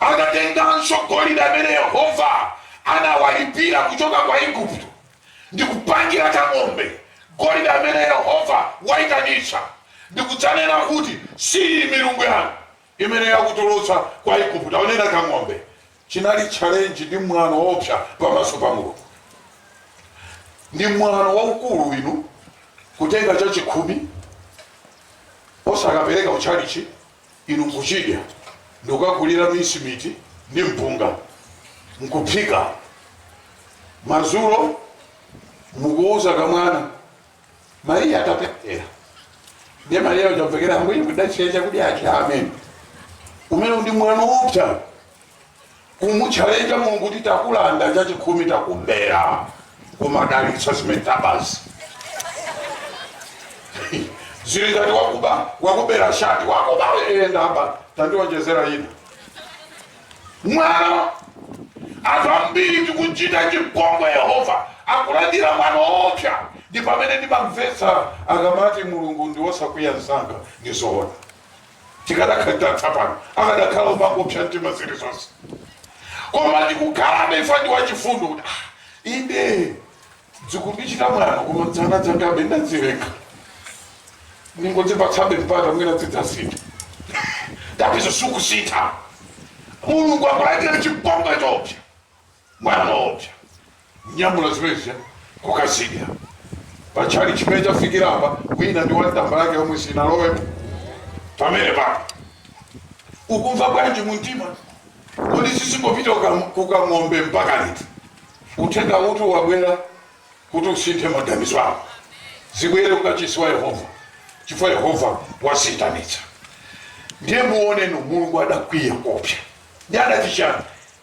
Adatenganso golide amene Yehova anawalipira kuchoka kwa Aigupto, ndi kupangira kang'ombe golide amene Yehova waitanitsa, ndi kudzanena kuti, Siyi milungu yanu imene yakutulutsa kwa Aigupto. Akunena kang'ombe. Chinali challenge ndi mwano woopsa pamaso pa Mulungu. Ndi mwano waukulu inu kutenga chachikhumi osakapereka kutchalitchi inu nkuchidya ndikukagulira mincemeat ndi mpunga nkuphika madzulo mukuuza kamwana mariya tapemphera ndiye mariya uja amvekere ambuye kudachiya chakudyachi amen umenewu ndi mwano woopsa kumutchalenja mulungu kuti takulanda chachikhumi takubera koma dalitsa zimene tabazi zili ngati wakubera shati wakuba ndaba tandionjezera ina mwano anthu ambiri tikuchita chipongwe yehova akulandira mwano woopsa ndi pamene ndimamvetsa akamati mulungu ndi wosakwiya msanga ndi zoona tikadakhala titatha pano akadakhala omangopsa mtima zilizonse koma tikukhalabe chifukwa ndi wachifundo kuti "Ah, inde dzikundichita mwano koma dzana dzangabe ndadzileka ndingodzipatsabe mpata mwina dzidzasintha tapizo sukusintha mulungu akulandira chipongwe choopsa Mwano woopsa. Nyamula zimene zija kukazidya. Pa tchalitchi chimene chafikira apa, wina ndi one tambala yake yomwe sinalowemo. Pamenepapo. Ukumva bwanji mu mtima? Kodi zizingopita ku kang'ombe mpaka liti? Uthengawutu wabwera kuti usinthe maganizo ako? Zibwere ku kachisi wa Yehova, chifukwa Yehova waziitanitsa. Ndiye muone inu, Mulungu adakwiya koopsa. Ndiye adati chiyani?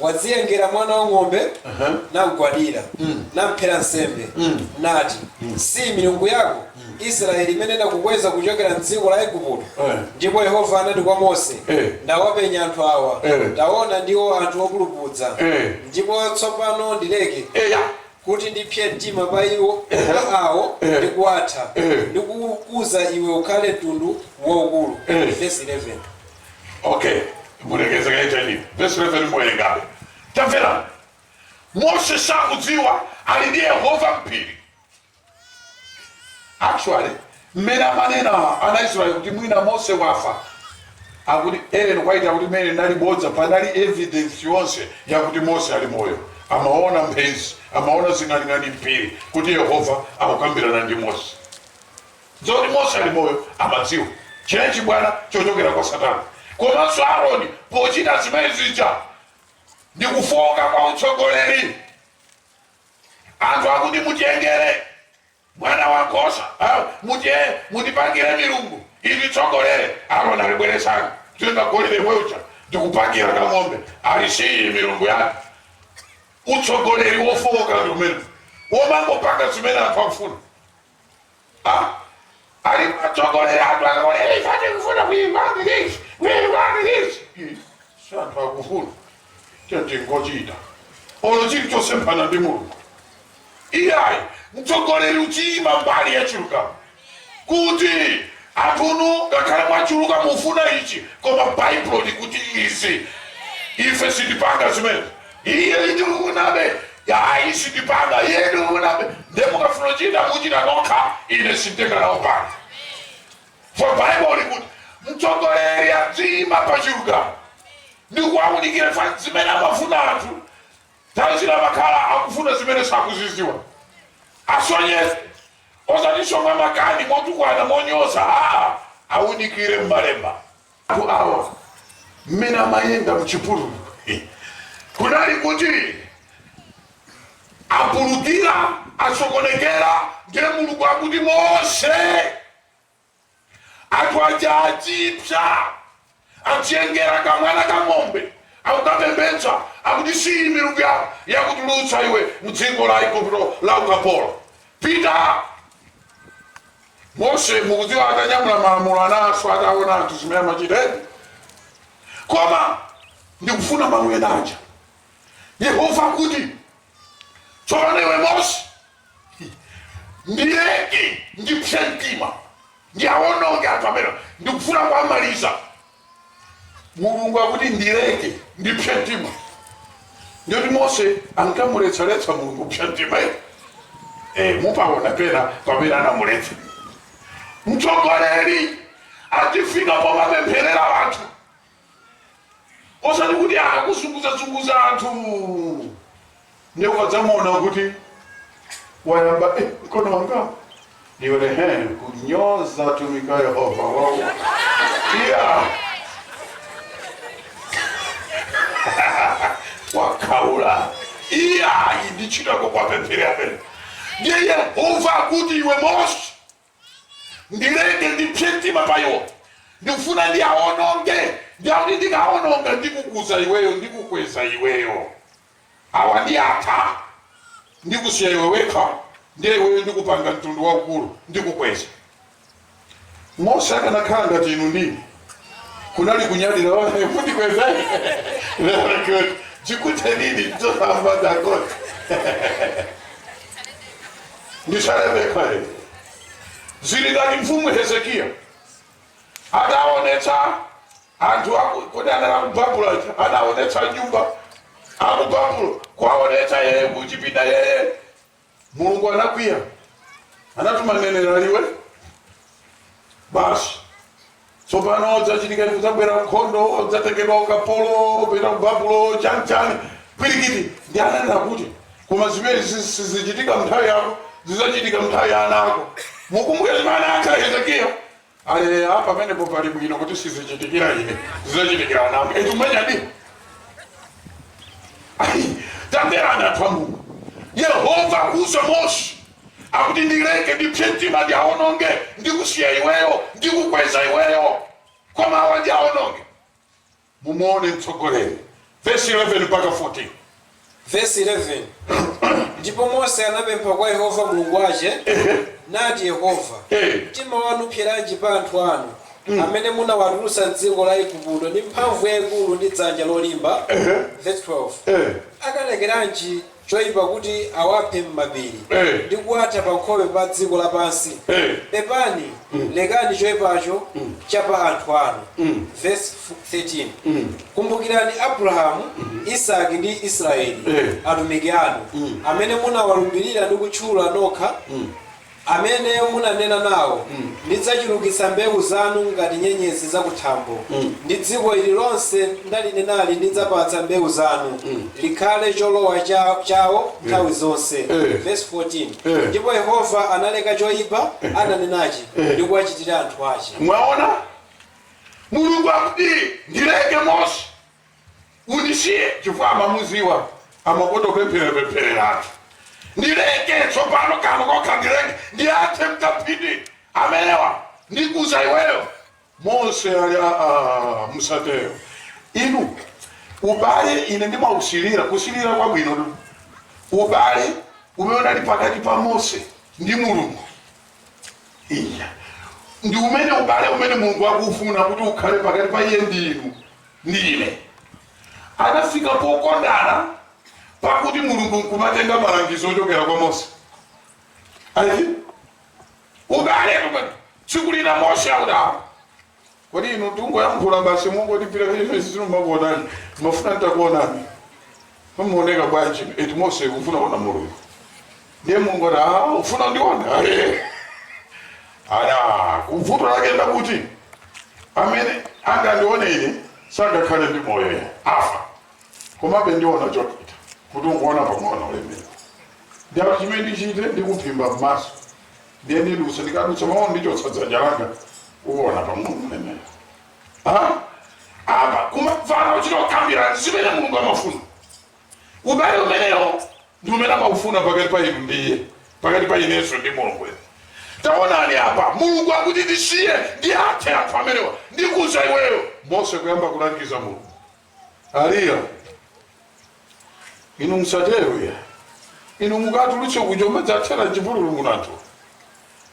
wadziyengera mwana wang'ombe, namgwadira, namphera nsembe, nati, Siyi milungu yako, Israyeli, imene inakukweza kuchokera m'dziko la Aigupto? Ndipo Yehova anati kwa Mose, Ndawapenya anthu awa, taona, ndiwo anthu opulupudza, ndipo tsopano ndileke eya kuti ndipse mtima pa iwo pa awo ndi kuwatha ndi kukuza iwe ukhale mtundu waukulu. Verse 11. okay mulekeze kaye chani vesi 11 muwerengabe tamvera mose sakudziwa ali ndi yehova m'phiri actually mmene amanena ana israeli kuti mwina mose wafa akuti ellen white akuti mmene linali bodza panali evidence yonse yakuti mose ali moyo amaona mphezi amaona zing'aning'ani m'phiri kuti yehova akukambirana ndi mose zoti Mose ali moyo amadziwa. Chinali chibwana chochokera kwa Satana. Komanso Aroni pochita zimene zija ndi kufooka kwa utsogoleri. Anthu akuti mutiyengere mwana wa nkhosa, ah, mutiye mutipangire milungu ititsogolere. Aroni ali bweretsani atenga golide yemwe uja ndikupangira kang'ombe ali siyi milungu yake. Utsogoleri wofooka ndi umene womangopanga zimene anthu akufuna. ali matsogoleri anthu akaonera ife tikufuna kuyimbani lisi kuyimbani lisi si anthu akufuna nde tingochita olo chili chosemphana ndi mulungu iyayi mtsogoleri udziyima mbali ya chilungamo kuti anthunu ngakhale mwachuluka mufuna ichi koma baibulo likuti izi ife sitipanga zimene iyayi tikufunabe ayi sindipanga iyayi tikufunabe ndiye mukafuna kuchita muchita nokha ine sinditenga nawo pano for bible likuti mtsogoleri adziyima pa chilungamo ndi kuwaunikira chifukwa zimene amafuna anthu nthawi zina amakhala akufuna zimene sakuzidziwa asonyeze osatinso mwamakani motukwana monyoza awaunikire mmalemba anthu awa mmene amayenda mchipululu kunali kuti apulukira asokonekera ndiye mulungu akuti mose anthu aja adziipsa adziyengera kamwana ka ng'ombe akukapembedza akuti siyi milungu yako yakutulutsa iwe mdziko la igupto la ukapolo pita Mose mukudziwa atanyamula malamulo anaswa ataona anthu zimene amachita eti koma ndikufuna mawu ena aja yehova akuti tsopano iwe mose ndileke ndipse mtima ndiawononge anthu amenewa ndikufuna kuwamaliza mulungu akuti ndileke ndipse mtima ndiye kuti mose ankamuletsaletsa mulungu kupsa mtima eti e, mupaona pena pamene anamuletsa mtsogoleri adzifika pomapempherera anthu osati kuti akakuzunguzazunguza anthu nde ukadzamuona kuti wayamba eh, mkono wanga ndione he kunyoza atumiki a yehova wao iya wakhaula iyayi ndi ntchito yako kuwapempherera apene ndiye yehova akuti iwe mose ndileke ndipse mtima pa iwo ndikufuna ndiawononge ndiye akuti ndikawononga ndikukuza iweyo ndikukweza iweyo awa ndiatha ndikusiya iwe wekha ndiye iweyo ndikupanga mtundu waukulu ndikukweza mose akanakhala ngati inu ndi ine kunali kunyadira mundikweza chikute nini mtoto ambaza kote ndisalebe pale zili ngati mfumu hezekiya adaonetsa anthu aku- kuti anali akubabulo adaonetsa nyumba akubabulo kuwaonetsa yeye kuchipinda yeye mulungu anakwiya anatuma mneneri ali iwe basi tsopano chidzachitika ndi kudzabwera nkhondo udzatengedwa ukapolo upita ku babulo chanichani pwirikiti ndiye ananena kuti koma zimene zi- sizichitika mnthawi yako zidzachitika mnthawi ya ana ako mukumbuke zimene anayankha hezekiya Apa, pamenepo pali bwino kuti sizichitikira ine, zidzachitikira ana anga. Eti umenyadi? Ayi, tamverani anthu a Mulungu. Yehova akuuza Mose akuti ndileke ndipse mtima ndiaononge ndikusiya iweyo ndikukweza iweyo koma awa ndiaononge Mumuone mtsogoleri, vesi 11 mpaka 14. Vesi 11 Ndipo Mose anapempha kwa Yehova Mulungu wace, nati, Yehova, Eh. mtima wanu upseranji pa anthu anu, amene munawaturutsa m'dziko la Aigupto ndi mphamvu yaikuru ndi dzanja lolimba? Vesi 12 Eh. Akalekeranji choipa kuti awaphe m'mapiri ndi kuwatha pankhope pa dziko lapansi, pepani, lekani choipacho cha pa anthu anu. Vesi 13, Kumbukirani Abrahamu, Isaki ndi Israyeli, atumiki anu, amene munawalumbirira ndi kutchula nokha. amene munanena nao, Ndidzacurukitsa mbeu zanu ngati nyenyezi za kuthambo, ndi dziko ili lonse ndalinenali ndidzapatsa mbeu zanu, likhale colowa ca, cao nthawi zonse. Vesi 14, Ndipo Yehova analeka coipa ananenaci, ndi kuwacitira anthu ace. Mwaona? Mulungu akuti, Ndileke, Mose? undisiye chifukwa amamudziwa amakonda kupempherera pempherera anthu ndileke tsopano kano kokha ndileke ndiathe mkapiti amenewa ndikuza iweyo mose ali "Ah, musatero inu ubale ine ndimausilira kusilira kwabwinotu ubale umene unali pakati pa mose ndi mulungu iya ndi umene ubale umene mulungu akufuna kuti ukhale pakati pa iye ndi inu ndi ine anafika pokondana pakuti mulungu nkumatenga malangizo ochokera kwa mose ayi ubale kumene tsiku lina mose akudala kodi inu tingoyankhula basi mungotipira kachimene sindimakuonani ndimafuna ntakuonani Mumaoneka bwanji? Eti Mose ufuna kuona Mulungu? Ndiye Mulungu ati, "Ah, ufuna ndiona?" Eh. Aya, vuto lake ndakuti amene angandione ine sangakhale ndi moyo yeye afa. Komabe ndiona chochita kuti ungoona pang'ono ulemerero. Ndipo chimene ndichite ndikuphimba m'maso. Ndiye ndidutsa ndikadutsa maono ndichotsa dzanja langa uona pang'ono ulemera. Ah, apa kumamvana kuchita kukambirana zimene mulungu amafuna ubale umenewo ndi umene amaufuna pakati pa inu ndi iye pakati pa inenso ndi mulungu inu taonani apa mulungu akuti ndisiye ndiwathe anthu amenewa ndikuza iweyo mose kuyamba kulangiza mulungu aliya inu musatero ya inu mukatulutse kuja nkumadzathera mchipululu kuno anthu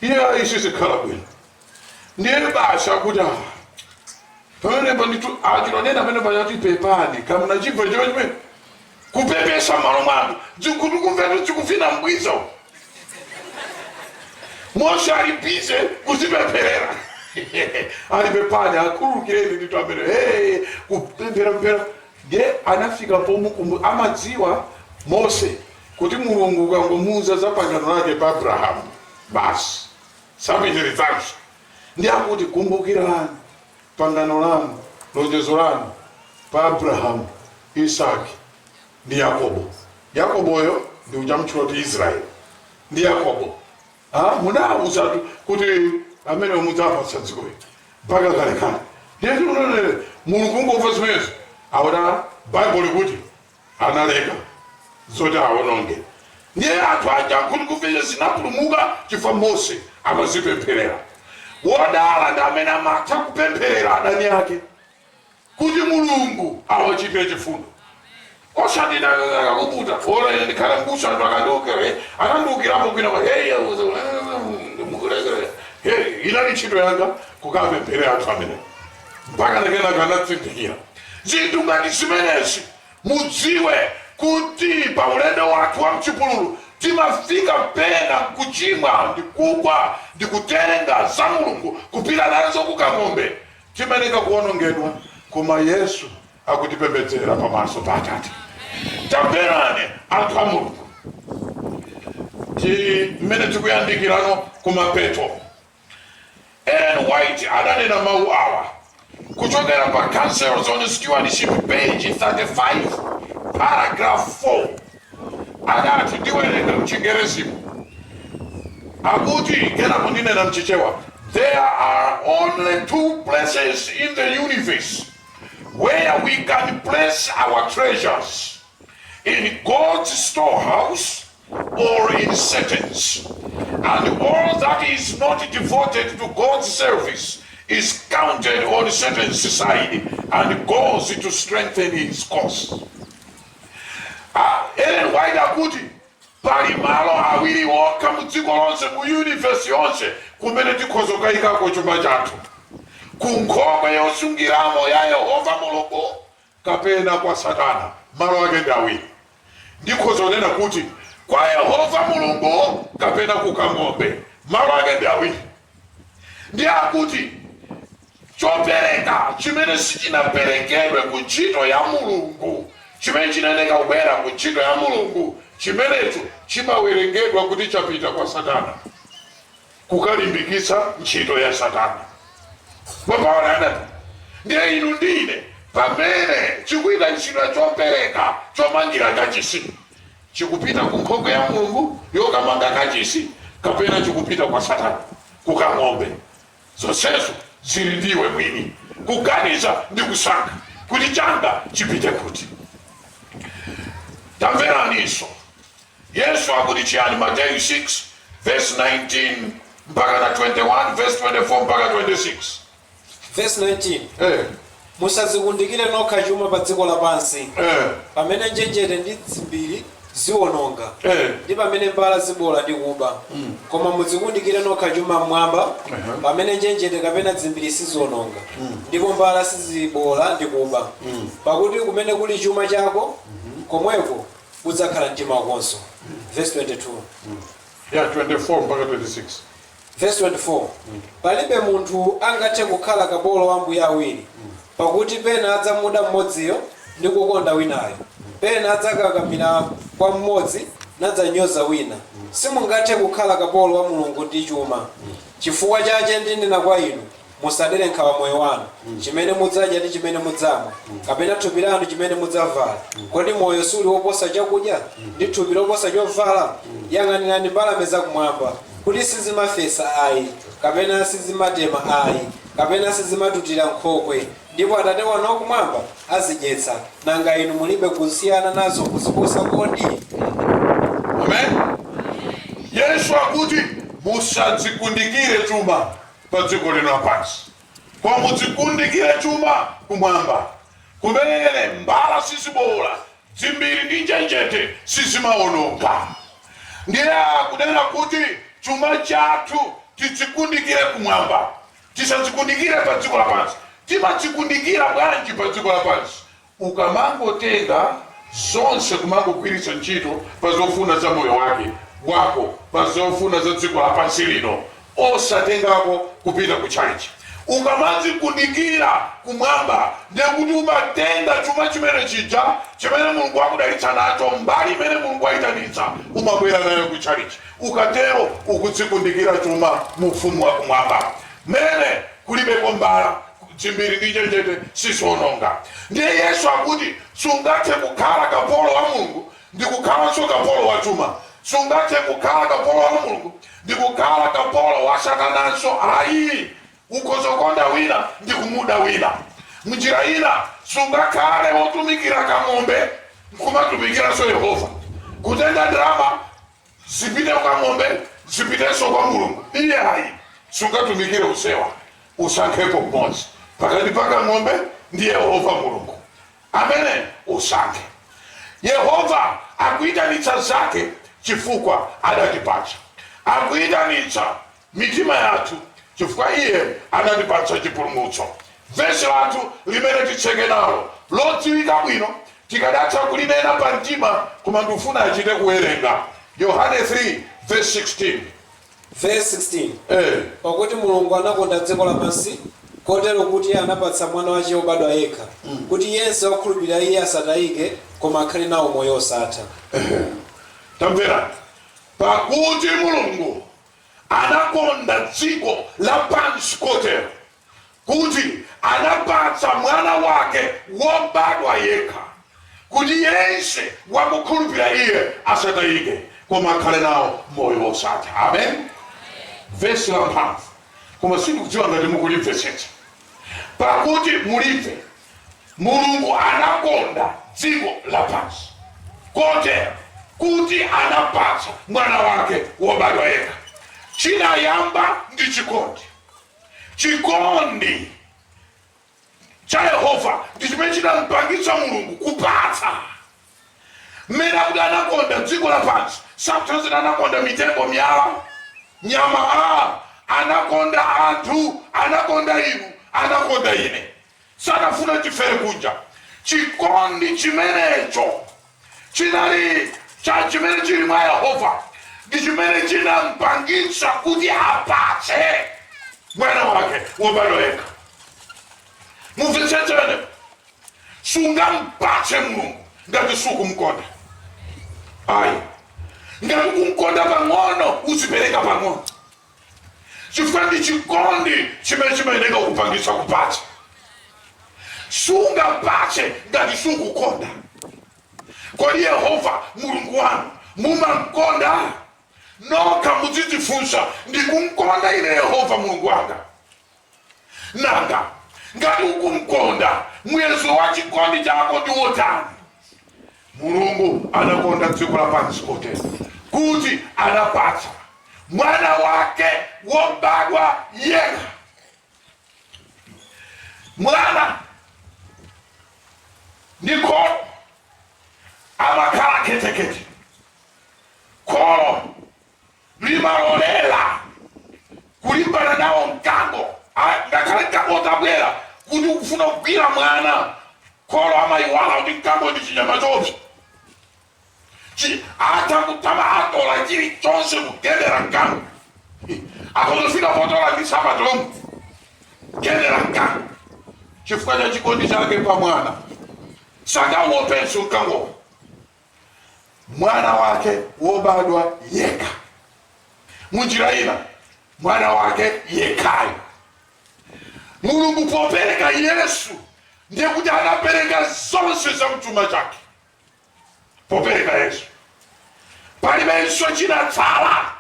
iye ayi sizikhala bwino ndiye basi akuti awa pamenepo ndithu achilonena pamenepo achati pepani kamunachibva chimene chimene Kupepesa m'malo mwanu. Zinkhutukumvetu zikuvina mbwiza uku. Mose ali bize kuzipempherera. Ali pepani akhululukireni ndithu amene. Hey, kupempherera. Ndiye anafika pomukumbu amadziwa Mose kuti Mulungu ukangomuuza za pangano lake pa Abrahamu basi sapitirizanso. Ndiye akuti kumbukirani pangano lanu, lonjezo lanu pa Abrahamu, Isaki, ndi Yakobo. Yakoboyo ndi uja amutchula kuti Israeli ndi Yakobo. Ah, munawuzatu kuti amenewo mudzawapatsa dziko ili mpaka kalekale. Ndiye tikunenere Mulungu kungomva zimenezo. Awona Bible likuti analeka zoti awononge ndiye anthu aja nkhutukumve zinapulumuka chifukwa mose amazipempherera wodala ndi amene amatha kupempherera adani ake kuti mulungu awachitire chifundo osati wina akakuputa ora ine ndikhala mbusa ndipo akandiukire anandiukirapo kwinakwake mukulekere hey inali ntchito yanga kukapempherera anthu amenewo mpaka kenaka anazindikira zinthu ngati zimenezi mudziwe kuti pa ulendo wathu wa mchipululu timafika pena kuchimwa ndi kugwa ndi kutenga za mulungu kupita nazo kukang'ombe timayenera kuonongedwa koma yesu akutipembedzera pamaso pa atate tamverani anthu a mulungu ti- mmene tikuyandikirano kumapeto Ellen White adanena mawu awa kuchokera pa Counsels on Stewardship page 35 paragraph 4. Adati, ndiwerenga m'Chingerezimo, akuti, kenako ndinena m'Chichewa, There are only two places in the universe where we can place our treasures, in God's storehouse or in Satan's, and all that is not devoted to God's service is counted on Satan's side and goes to strengthen his cause. Ah, Ellen White akuti pali malo awiri okha mu dziko lonse mu universe yonse kumene tikhoza kukayikako chuma chathu ku nkhokwe yosungiramo ya yehova mulungu kapena kwa Satana, malo ake ndi awiri. Ndikhoza kunena kuti, kwa Yehova Mulungu kapena ku Kang'ombe, malo ake ndi awiri. Ndi akuti chopereka chimene sichinaperekedwe ku ntchito ya Mulungu, chimene chinayeneka kubwera ku ntchito ya Mulungu, chimenecho chimawerengedwa kuti chapita kwa Satana. kukalimbikitsa ntchito ya Satana. Mwapaona anati, ndiye inu ndine pamene chikuita ntchito chopereka chomangira kachisi chikupita ku nkhokwe ya Mulungu yokamanga kachisi kapena chikupita kwa Satana kukang'ombe. Zonsezo zili ndi iwe mwini kuganiza ndi kusankha kuti changa chipite kuti. Tamveraniso Yesu akuti chiyani? Mateyu 6 verse 19 mpaka na 21 verse 24 mpaka 26 Verse 19. eh, Musadzikundikire nokha chuma pa dziko lapansi, eh, pamene njenjete ndi dzimbiri ziwononga, eh. ndi pamene mbala ziboola ndi kuba. Koma mudzikundikire nokha chuma mmwamba, pamene njenjete kapena dzimbiri siziwononga, ndipo mbala siziboola ndi kuba. Pakuti kumene kuli chuma chako, komweko udzakhala mtima wakonso. Verse 22. Ya 24 mpaka 26. Verse 24. Palibe munthu angathe kukhala kapolo wa ambuye awiri, pakuti pena adzamuda mmodziyo ndi kukonda winayo, pena adzakakamira kwa mmodzi nadzanyoza wina. Simungathe kukhala kapolo wa Mulungu ndi chuma. Chifukwa chache ndinena kwa inu, Musadere nkhawa moyo wanu, chimene mudzadya ndi chimene mudzamwa, kapena thupi lanu chimene mudzavala. Kodi moyo suli woposa chakudya, ndi thupi loposa chovala? Yang'anirani mbalame za kumwamba, kuti sizimafesa ayi, kapena sizimatema ayi, kapena sizimatutira m'nkhokwe, ndipo Atate wanu wa kumwamba azidyetsa. Nanga inu mulibe kusiyana nazo kuziposa kodi? Amen. Yesu akuti, Musadzikundikire chuma. padziko lino lapansi, koma mudzikundikire chuma kumwamba, kumene mbala siziboola, dzimbiri ndi njenjete sizimawononga. Ndiye akunena kuti chuma chathu tidzikundikire kumwamba, tisadzikundikire padziko lapansi. Timadzikundikira bwanji padziko lapansi? Ukamangotenga zonse kumangogwiritsa ntchito pa zofuna za moyo wake, wako pa zofuna za dziko lapansi lino osatengako kupita ku chalichi. Ukamadzikundikira kumwamba ndiye kuti umatenga chuma chomwe chija chimene Mulungu wakudalitsa nacho, mbali imene Mulungu waitanitsa umabwera nayo ku chalichi. Ukatero ukudzikundikira chuma mu ufumu wa kumwamba mene kulibeko mbala. dzimbiri ndi njenjete siziononga ndiye yesu akuti sungathe kukhala kapolo wa mulungu ndi kukhalanso kapolo wa chuma sungathe kukhala kapolo wa mulungu ndi kukhala kapolo wa satananso ayi ukhoza kukonda wina ndi kumuda wina mnjira ina sungakhale wotumikira kang'ombe nkumatumikiranso yehova kutenga ndalama zipite kwa ng'ombe zipitenso kwa mulungu iye ayi sungatumikire onsewa usankhepo mmodzi pakati pa kang'ombe ndi yehova mulungu amene usankhe yehova akuyitanitsa zake chifukwa adatipatsa akuyitanitsa mitima yathu chifukwa Iye anatipatsa chipulumutso. Vesi lathu limene titseke nalo, lodziwika bwino, tikadatha kulinena pa mtima koma ndufuna achite kuwerenga. Yohane 3 vesi 16. Vesi 16, Eee! Pakuti Mulungu anakonda dziko lapansi kotero, kuti anapatsa Mwana wache wobadwa yekha, kuti yense wakhulupirira Iye asatayike, koma akhale nawo moyo wosatha. Ehe! Tamverani, Pakuti Mulungu anakonda dziko lapansi kotero, kuti anapatsa Mwana wake wobadwa yekha, kuti yense wakukhulupira iye asatayike, koma akhale nawo moyo wosatha. Amen. Vesi la mphamvu, koma sindikudziwa ngati mukulimvetsetsa, pakuti mulive Mulungu anakonda dziko lapansi kotero, kuti anapatsa Mwana wake wobadwa yekha. Chinayamba ndi chikondi. Chikondi cha Yehova ndi chimene chinampangitsa Mulungu kupatsa. Mmene akuti anakonda dziko lapansi sakutanthauza kuti anakonda mitengo, miyala, nyama. Anakonda anthu, anakonda inu, anakonda ine. Sanafuna tifere kunja. Chikondi chimenecho chinali chimene chili mwa Yehova ndi chimene chinampangitsa kuti apatse mwana wake wobadwa yekha. Mumvetsetse pamenepo. Sungampatse Mulungu ngati sukumkonda. Ayi, ngati ukumkonda pang'ono uzipereka pang'ono. chifukwa ndi chikondi chimene chimayeneka kupangitsa kupatsa sungapatse ngati sukukonda kodi yehova mulungu wanu mumamkonda nokha muzidzifunsa ndikumkonda ine yehova mulungu wanga Nanga ngati ukumkonda, muyezo wa chikondi chako ndi wotani? Mulungu anakonda dziko lapansi kotero, kuti anapatsa Mwana wake wobadwa yekha. Mwana ndi kholo amakhala khethekhethe. Kholo limalolera kulimbana nawo mkango a- ngakhale mkango utabwera kuti ukufuna kugwira mwana kholo amayiwala kuti mkango ndi chinyama choopsa Chi- atha kutoma atola chilichonse kugendera mkango akudzafika potola ndi matomu kugendera mkango chifukwa cha chikondi chake pa mwana sangawopenso mkangowo mwana wake wobadwa yekha munjira ina mwana wake yekhayo mulungu popereka yesu ndiye kuti anapereka zonse za mchuma chake popereka yesu palibenso chinatsala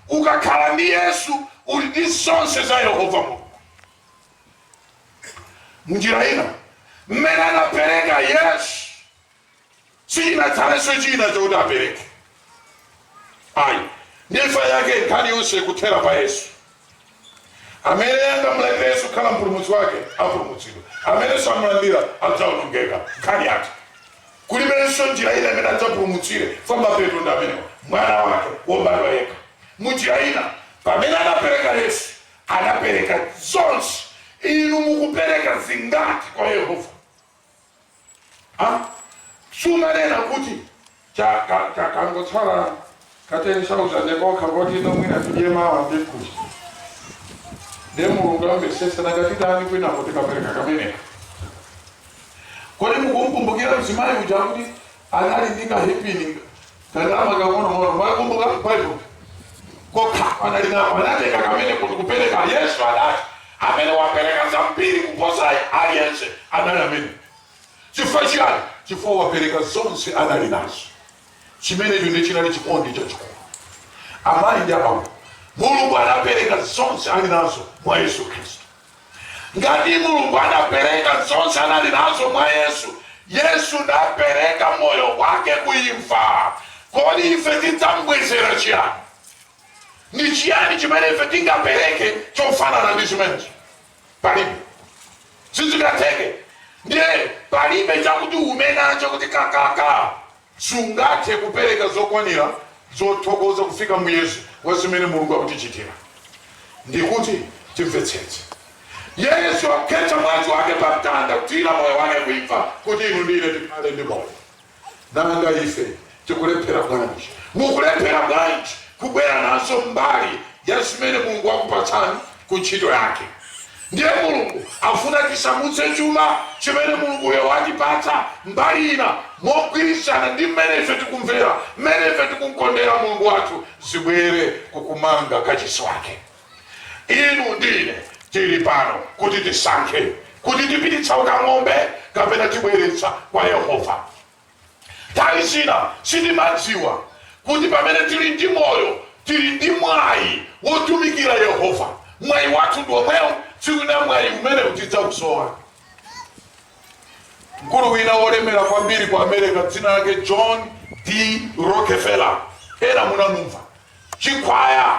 ukakhala ndi yesu uli ndi zonse za yehova mulungu munjira ina mmene anapereka yesu sichinatsalenso china chakuti apereke ayi nchifukwa chake nkhani yonse ikuthera pa yesu amene angamlandire yesu kukhala mpulumutsi wake apulumutsidwa amene samlandira adzaonongeka nkhani yake kulibenso njira ina imene adzapulumutsire chifukwa mapeto ndi amenewa mwana wake wobadwa yekha munjira ina pamene anapereka yesu anapereka zonse inu mukupereka zingati kwa yehova Ha? Sumanena kuti cha ka ka kangotsala ka 10,000 kokha koti ino mwina tidye mawa ndi mkucha. Ndiye Mulungu amvetsetse nanga titani kwinako tikapereka kameneka. Kodi mukumkumbukira mzimayi uja kuti anali ndi kahipini Kandalama kang'onong'ono mwakumbuka Bible. Kokha anali nako anatenga kameneko ndi kupereka Yesu anati amene wapereka zambiri kuposa aliyense anali amene. Chifukwa chiyani? Chifukwa wapereka zonse anali nazo. Chimenecho ndiye chinali chikondi chachikulu. Amayi ndi abambo, Mulungu anapereka zonse ali nazo mwa Yesu Khristu. Ngati Mulungu anapereka zonse anali nazo mwa Yesu, Yesu napereka moyo wake ku imfa, kodi ife tidzambwezera chiyani? Ndi chiyani chimene ife tingapereke chofanana ndi chimenechi? Palibe, sizingatheke. Ndiye palibe chakuti uume nacho kuti kakaka Sungathe kupereka zokwanira zothokoza kufika muyezo wa zimene Mulungu akutichitira ndikuti timvetsetse. Yesu wakhetsa mwazi wake pa mtanda kuthira moyo wake ku imfa kuti inu ndi ine tikhale ndi moyo. Nanga ife tikulephera bwanji? Mukulephera bwanji kubwera nazo mbali ya zimene Mulungu wakupatsani ku ntchito yake? Ndiye Mulungu afuna tisamutse chuma chimene Mulunguyo watipatsa mbali ina, mogwirizana ndi mmene ife tikumvera, mmene ife tikumkondera Mulungu wathu, zibwere ku kumanga kachisi Wake. Inu ndi ine tili pano kuti tisankhe, kuti tipititsa ku kang'ombe kapena tibweretsa kwa Yehova. Nthawi zina sitimadziwa kuti pamene tili ndi moyo, tili ndi mwayi wotumikira Yehova. Mwayi wathu ndi womwewu. Tsiku lina mwayi umenewu tidzausowa. Mkulu wina wolemera kwambiri ku America, dzina lake John D. Rockefeller, ena munamumva. Chikhwaya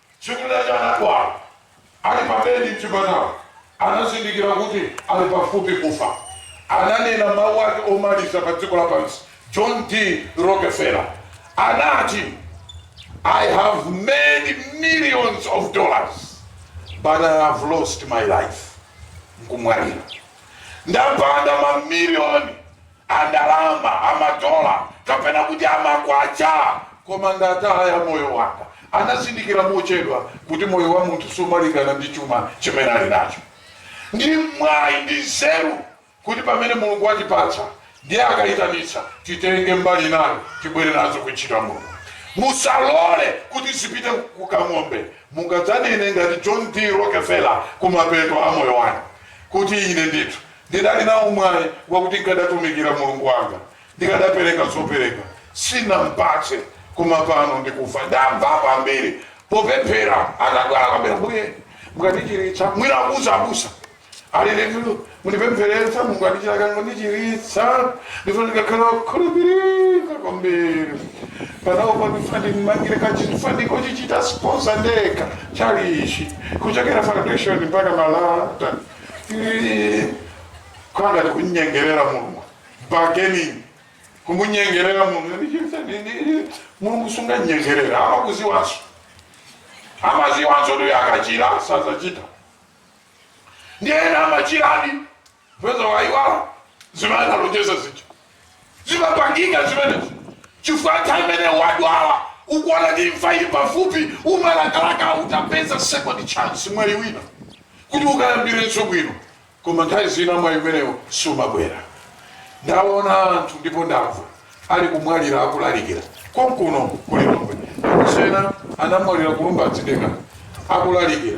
tsiku lina lake anadwala ali pa bedi mchipatala anazindikira kuti ali pafupi kufa ananena mawu ake omaliza pa dziko lapansi john d rockefeller anati i have made millions of dollars but i have lost my life nkumwalira ndapanga mamiliyoni a ndalama, a madola, kapena kuti a makwacha. Koma ndataya moyo wanga. Anazindikira mochedwa kuti moyo wa munthu sumalingana ndi chuma chimene ali nacho. Ndi mwayi ndi nzeru kuti pamene Mulungu watipatsa ndiye akaitanitsa, titenge mbali nayo, tibwere nazo ku ntchito ya Mulungu. Musalole kuti zipite ku kang'ombe. Mungadzanene ngati John D. Rockefeller kumapeto a moyo wanu kuti, Ine ndithu Ndidali nawo mwayi wakuti nkadatumikira Mulungu wanga, ndikadapereka zopereka sinampatse, koma pano ndikufa, ndamvapo ambiri popemphera atadwala kwambiri, Mbuye mukandichiritsa, mwina akuuza abusa ali litu mundipempherere Mulungu andichira kani mundichiritsa, ndifuna ndikakhala wakukhulupirika kwambiri panopa ndifuna ndimmangire kachisi ndifuna ndingochichita sponsor ndekha tchalichi kuchokera foundation mpaka malata Ii, kukhala ngati kunyengerera mulungu bargaining kumunyengerera mulungu Ndi chinthu ndi- ndi- ndi- mulungu sunganyengerera amakudziwanso amadziwanso kuti akachira sazachita ndi ena amachiradi peza waiwala zimene analonjeza zija Zimapangika zimenezo chifukwa nthawi imene wadwala ukuona kuti imfa ili pafupi, umalakalaka utapeza second chance, mwayi wina kuti ukayambirenso bwino, koma nthawi zina mwayi umenewo sumabwera. Ndaona anthu ndipo ndamva ali kumwalira akulalikira konkuno ku Lilongwe. Abusa ena anamwalira ku Lumbadzi dera akulalikira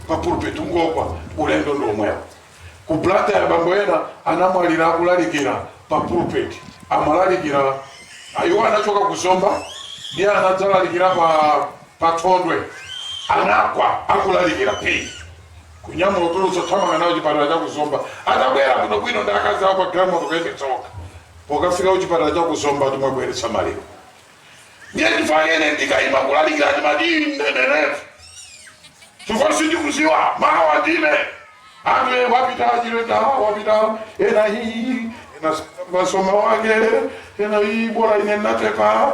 pa pulpit, kungogwa, ulendo ndi womwewo. Ku Blantyre bambo ena anamwalira akulalikira pa pulpit. Amalalikira iwo anachoka ku Zomba ndiye anadzalalikira pa pa Thondwe. Anagwa akulalikira pii kunyamula kutulutsa thamanga nawo chipatala cha ku Zomba. Atabwera bwinobwino ndi akazi awo pa galimoto kuyendetsa okha. Pokafika ku chipatala cha ku Zomba ati mwabweretsa maliro. ndiye chifukwa chake ine ndikaima kulalikira ndimati ndineneretu chifukwa sindikudziwa mawa ndine anthu e wapita achileta wapita ena iyi ena masoma wake ena iyi bora ine ndatepa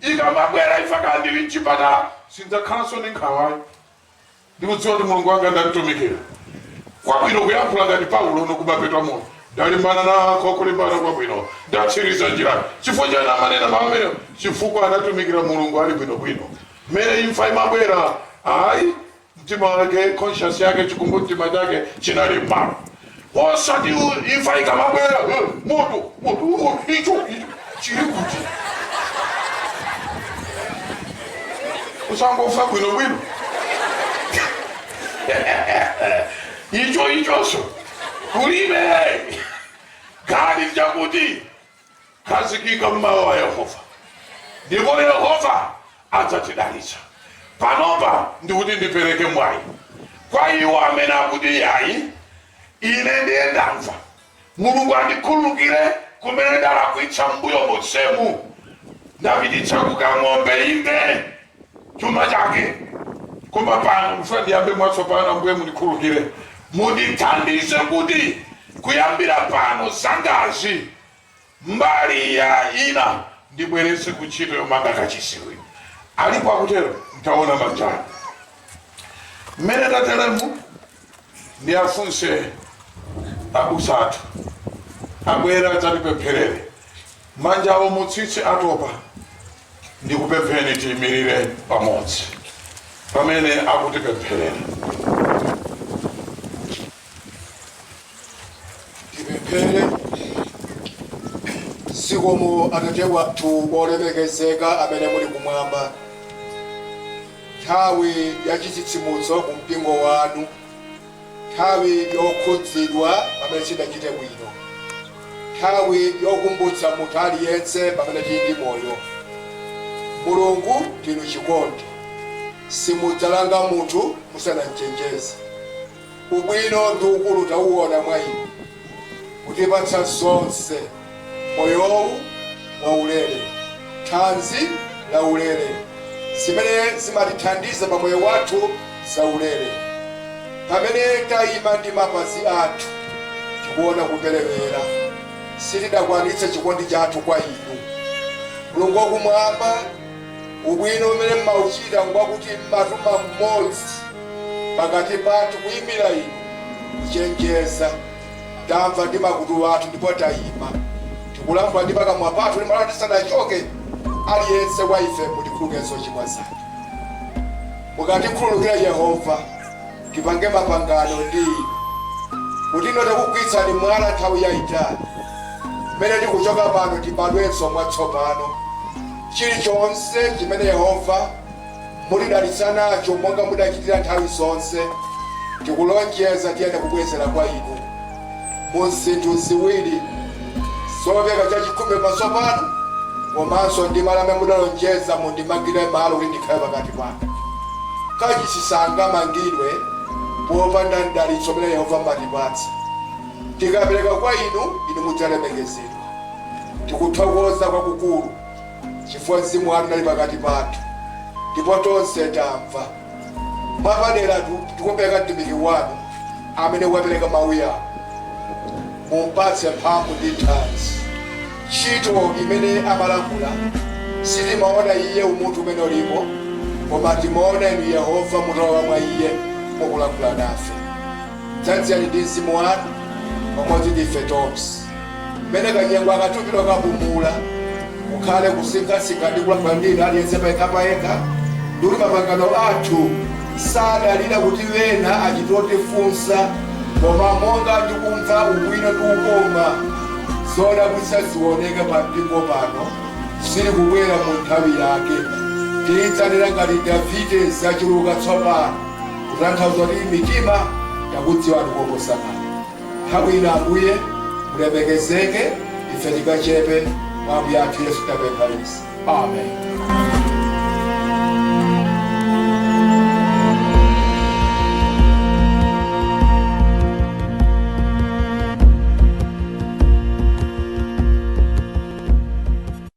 ikamabwera imfa kaya ndili mchipatala sindzakhalanso ndi nkhawa ayi ndikudziwa kuti mulungu wanga ndamtumikira kwabwino kuyankhula ngati paulo kumapeto amoyo ndalimbana nako kulimbana kwabwino ndatsiriza njira chifukwa chani amanena mawu amenewo chifukwa anatumikira mulungu ali bwinobwino mmene imfa imabwera ayi Mtima wake, conscious yake, chikumbumtima chake chinali m'malo. Osati u- imfa ikamabwera, "Eh, moto, moto, moto, icho, icho, chili kuti? Uzangofa bwinobwino. Icho ichonso kulibe. Kali chakuti Khazikika m'mawu a Yehova, ndipo Yehova adzatidalitsa. Panopa ndikuti ndipereke mwayi kwa iwo amene akuti, Iyayi, ine ndiye ndamva. Mulungu andikhululukire kumene ndalakwitsa m'mbuyo monsemu. Ndapititsa kukanganga, inde. chuma chake koma pano ndifuna ndiyambe mwatsopano ambuye mundikhulukire mundithandize kuti kuyambira pano zangazi mbali yayina ndibweretse ku ntchito yomanga kachisiwi alipo akutero ntaona manjawo mmene tateremu ndiyafunse abusa athu abwere adzatipempherere manjawo mutsitse atopa ndikupempheni tiimirire pamodzi pamene akutipempherera tipemphere zikomo atate wathu olemekezeka amene muli kumwamba nthawi ya chitsitsimutso ku mpingo wanu Nthawi yokhudzidwa pamene sitidachite bwino. Nthawi yokumbutsa munthu aliyense pamene tili ndi moyo. Mulungu ndinu chikondi. Simudzalanga munthu musanamchenjeze. Ubwino ndi ukulu tauona mwa inu. Kutipatsa zonse. moyowu waulere, thanzi laulere, zimene zimatithandiza pa moyo wathu zaulere. Pamene tayima ndi mapazi athu tikuona kuperewera, sitidakwanitse chikondi chathu kwa inu. Mulungu wakumwamba, ubwino umene mmauchita ngwakuti mmatuma mmodzi pakati pathu kuyimira inu, kuchenjeza Tamva ndi makutu athu ndipo taima. Tikulankhula ndi pakamwa pathu, limala tisanachoke. Aliyense wa ife mutikhulukire zochimwa zathu. Mukatikhululukira Yehova, tipange mapangano ndi inu, kuti inu takugwiritsani mwala nthawi yaitali. Mmene tikuchoka pano tibadwenso mwatsopano. Chilichonse chimene Yehova. mutidalitsa nacho, monga mudachitira nthawi zonse, tikulonjeza tiyenera kubwezera kwa inu mu zinthu ziwiri, zopereka chachikhumi pamaso panu, komanso ndi malo amene mudalonjeza mundimangire malo kuti ndikhale pakati panu. Kachisi sangamangidwe popanda mdalitso umene Yehova mumatipatsa. Tikapereka kwa inu, inu mudzalemekezedwa. Tikuthokoza kwakukulu. chifukwa mzimu wanu unali pakati pathu ndipo tonse tamva mwapadera tikupereka mtumiki wanu amene wapereka mawuwa mumpatse mphamvu ndi thanzi ntchito imene amalankhula sitimaona iye umunthu umene ulipo koma timaona inu yehova mutalowa mwa iye mukulankhula nafe dzadzani ndi mzimu wanu pamodzi ndi ife tonse Mmene kanyengo aka tupita kukapumula, kukhale kusinkhasinkha ndi kulankhula ndi inu aliyense payekhapayekha, ndi kuti mapangano athu asadalire kuti ena achite kutifunsa, koma monga ndikumva ubwino ndi ukoma, zodabwitsa zioneke pa mpingo pano, zili kubwera mu nthawi yake. Tidzalira ngati Davide zachuluka tsopano, kutanthauza kuti mitima yakudziwani koposa kale. Nthawi ino, Ambuye, mulemekezeke, ife tikachepe mwa Ambuye athu Yesu tapempha izi. Amen.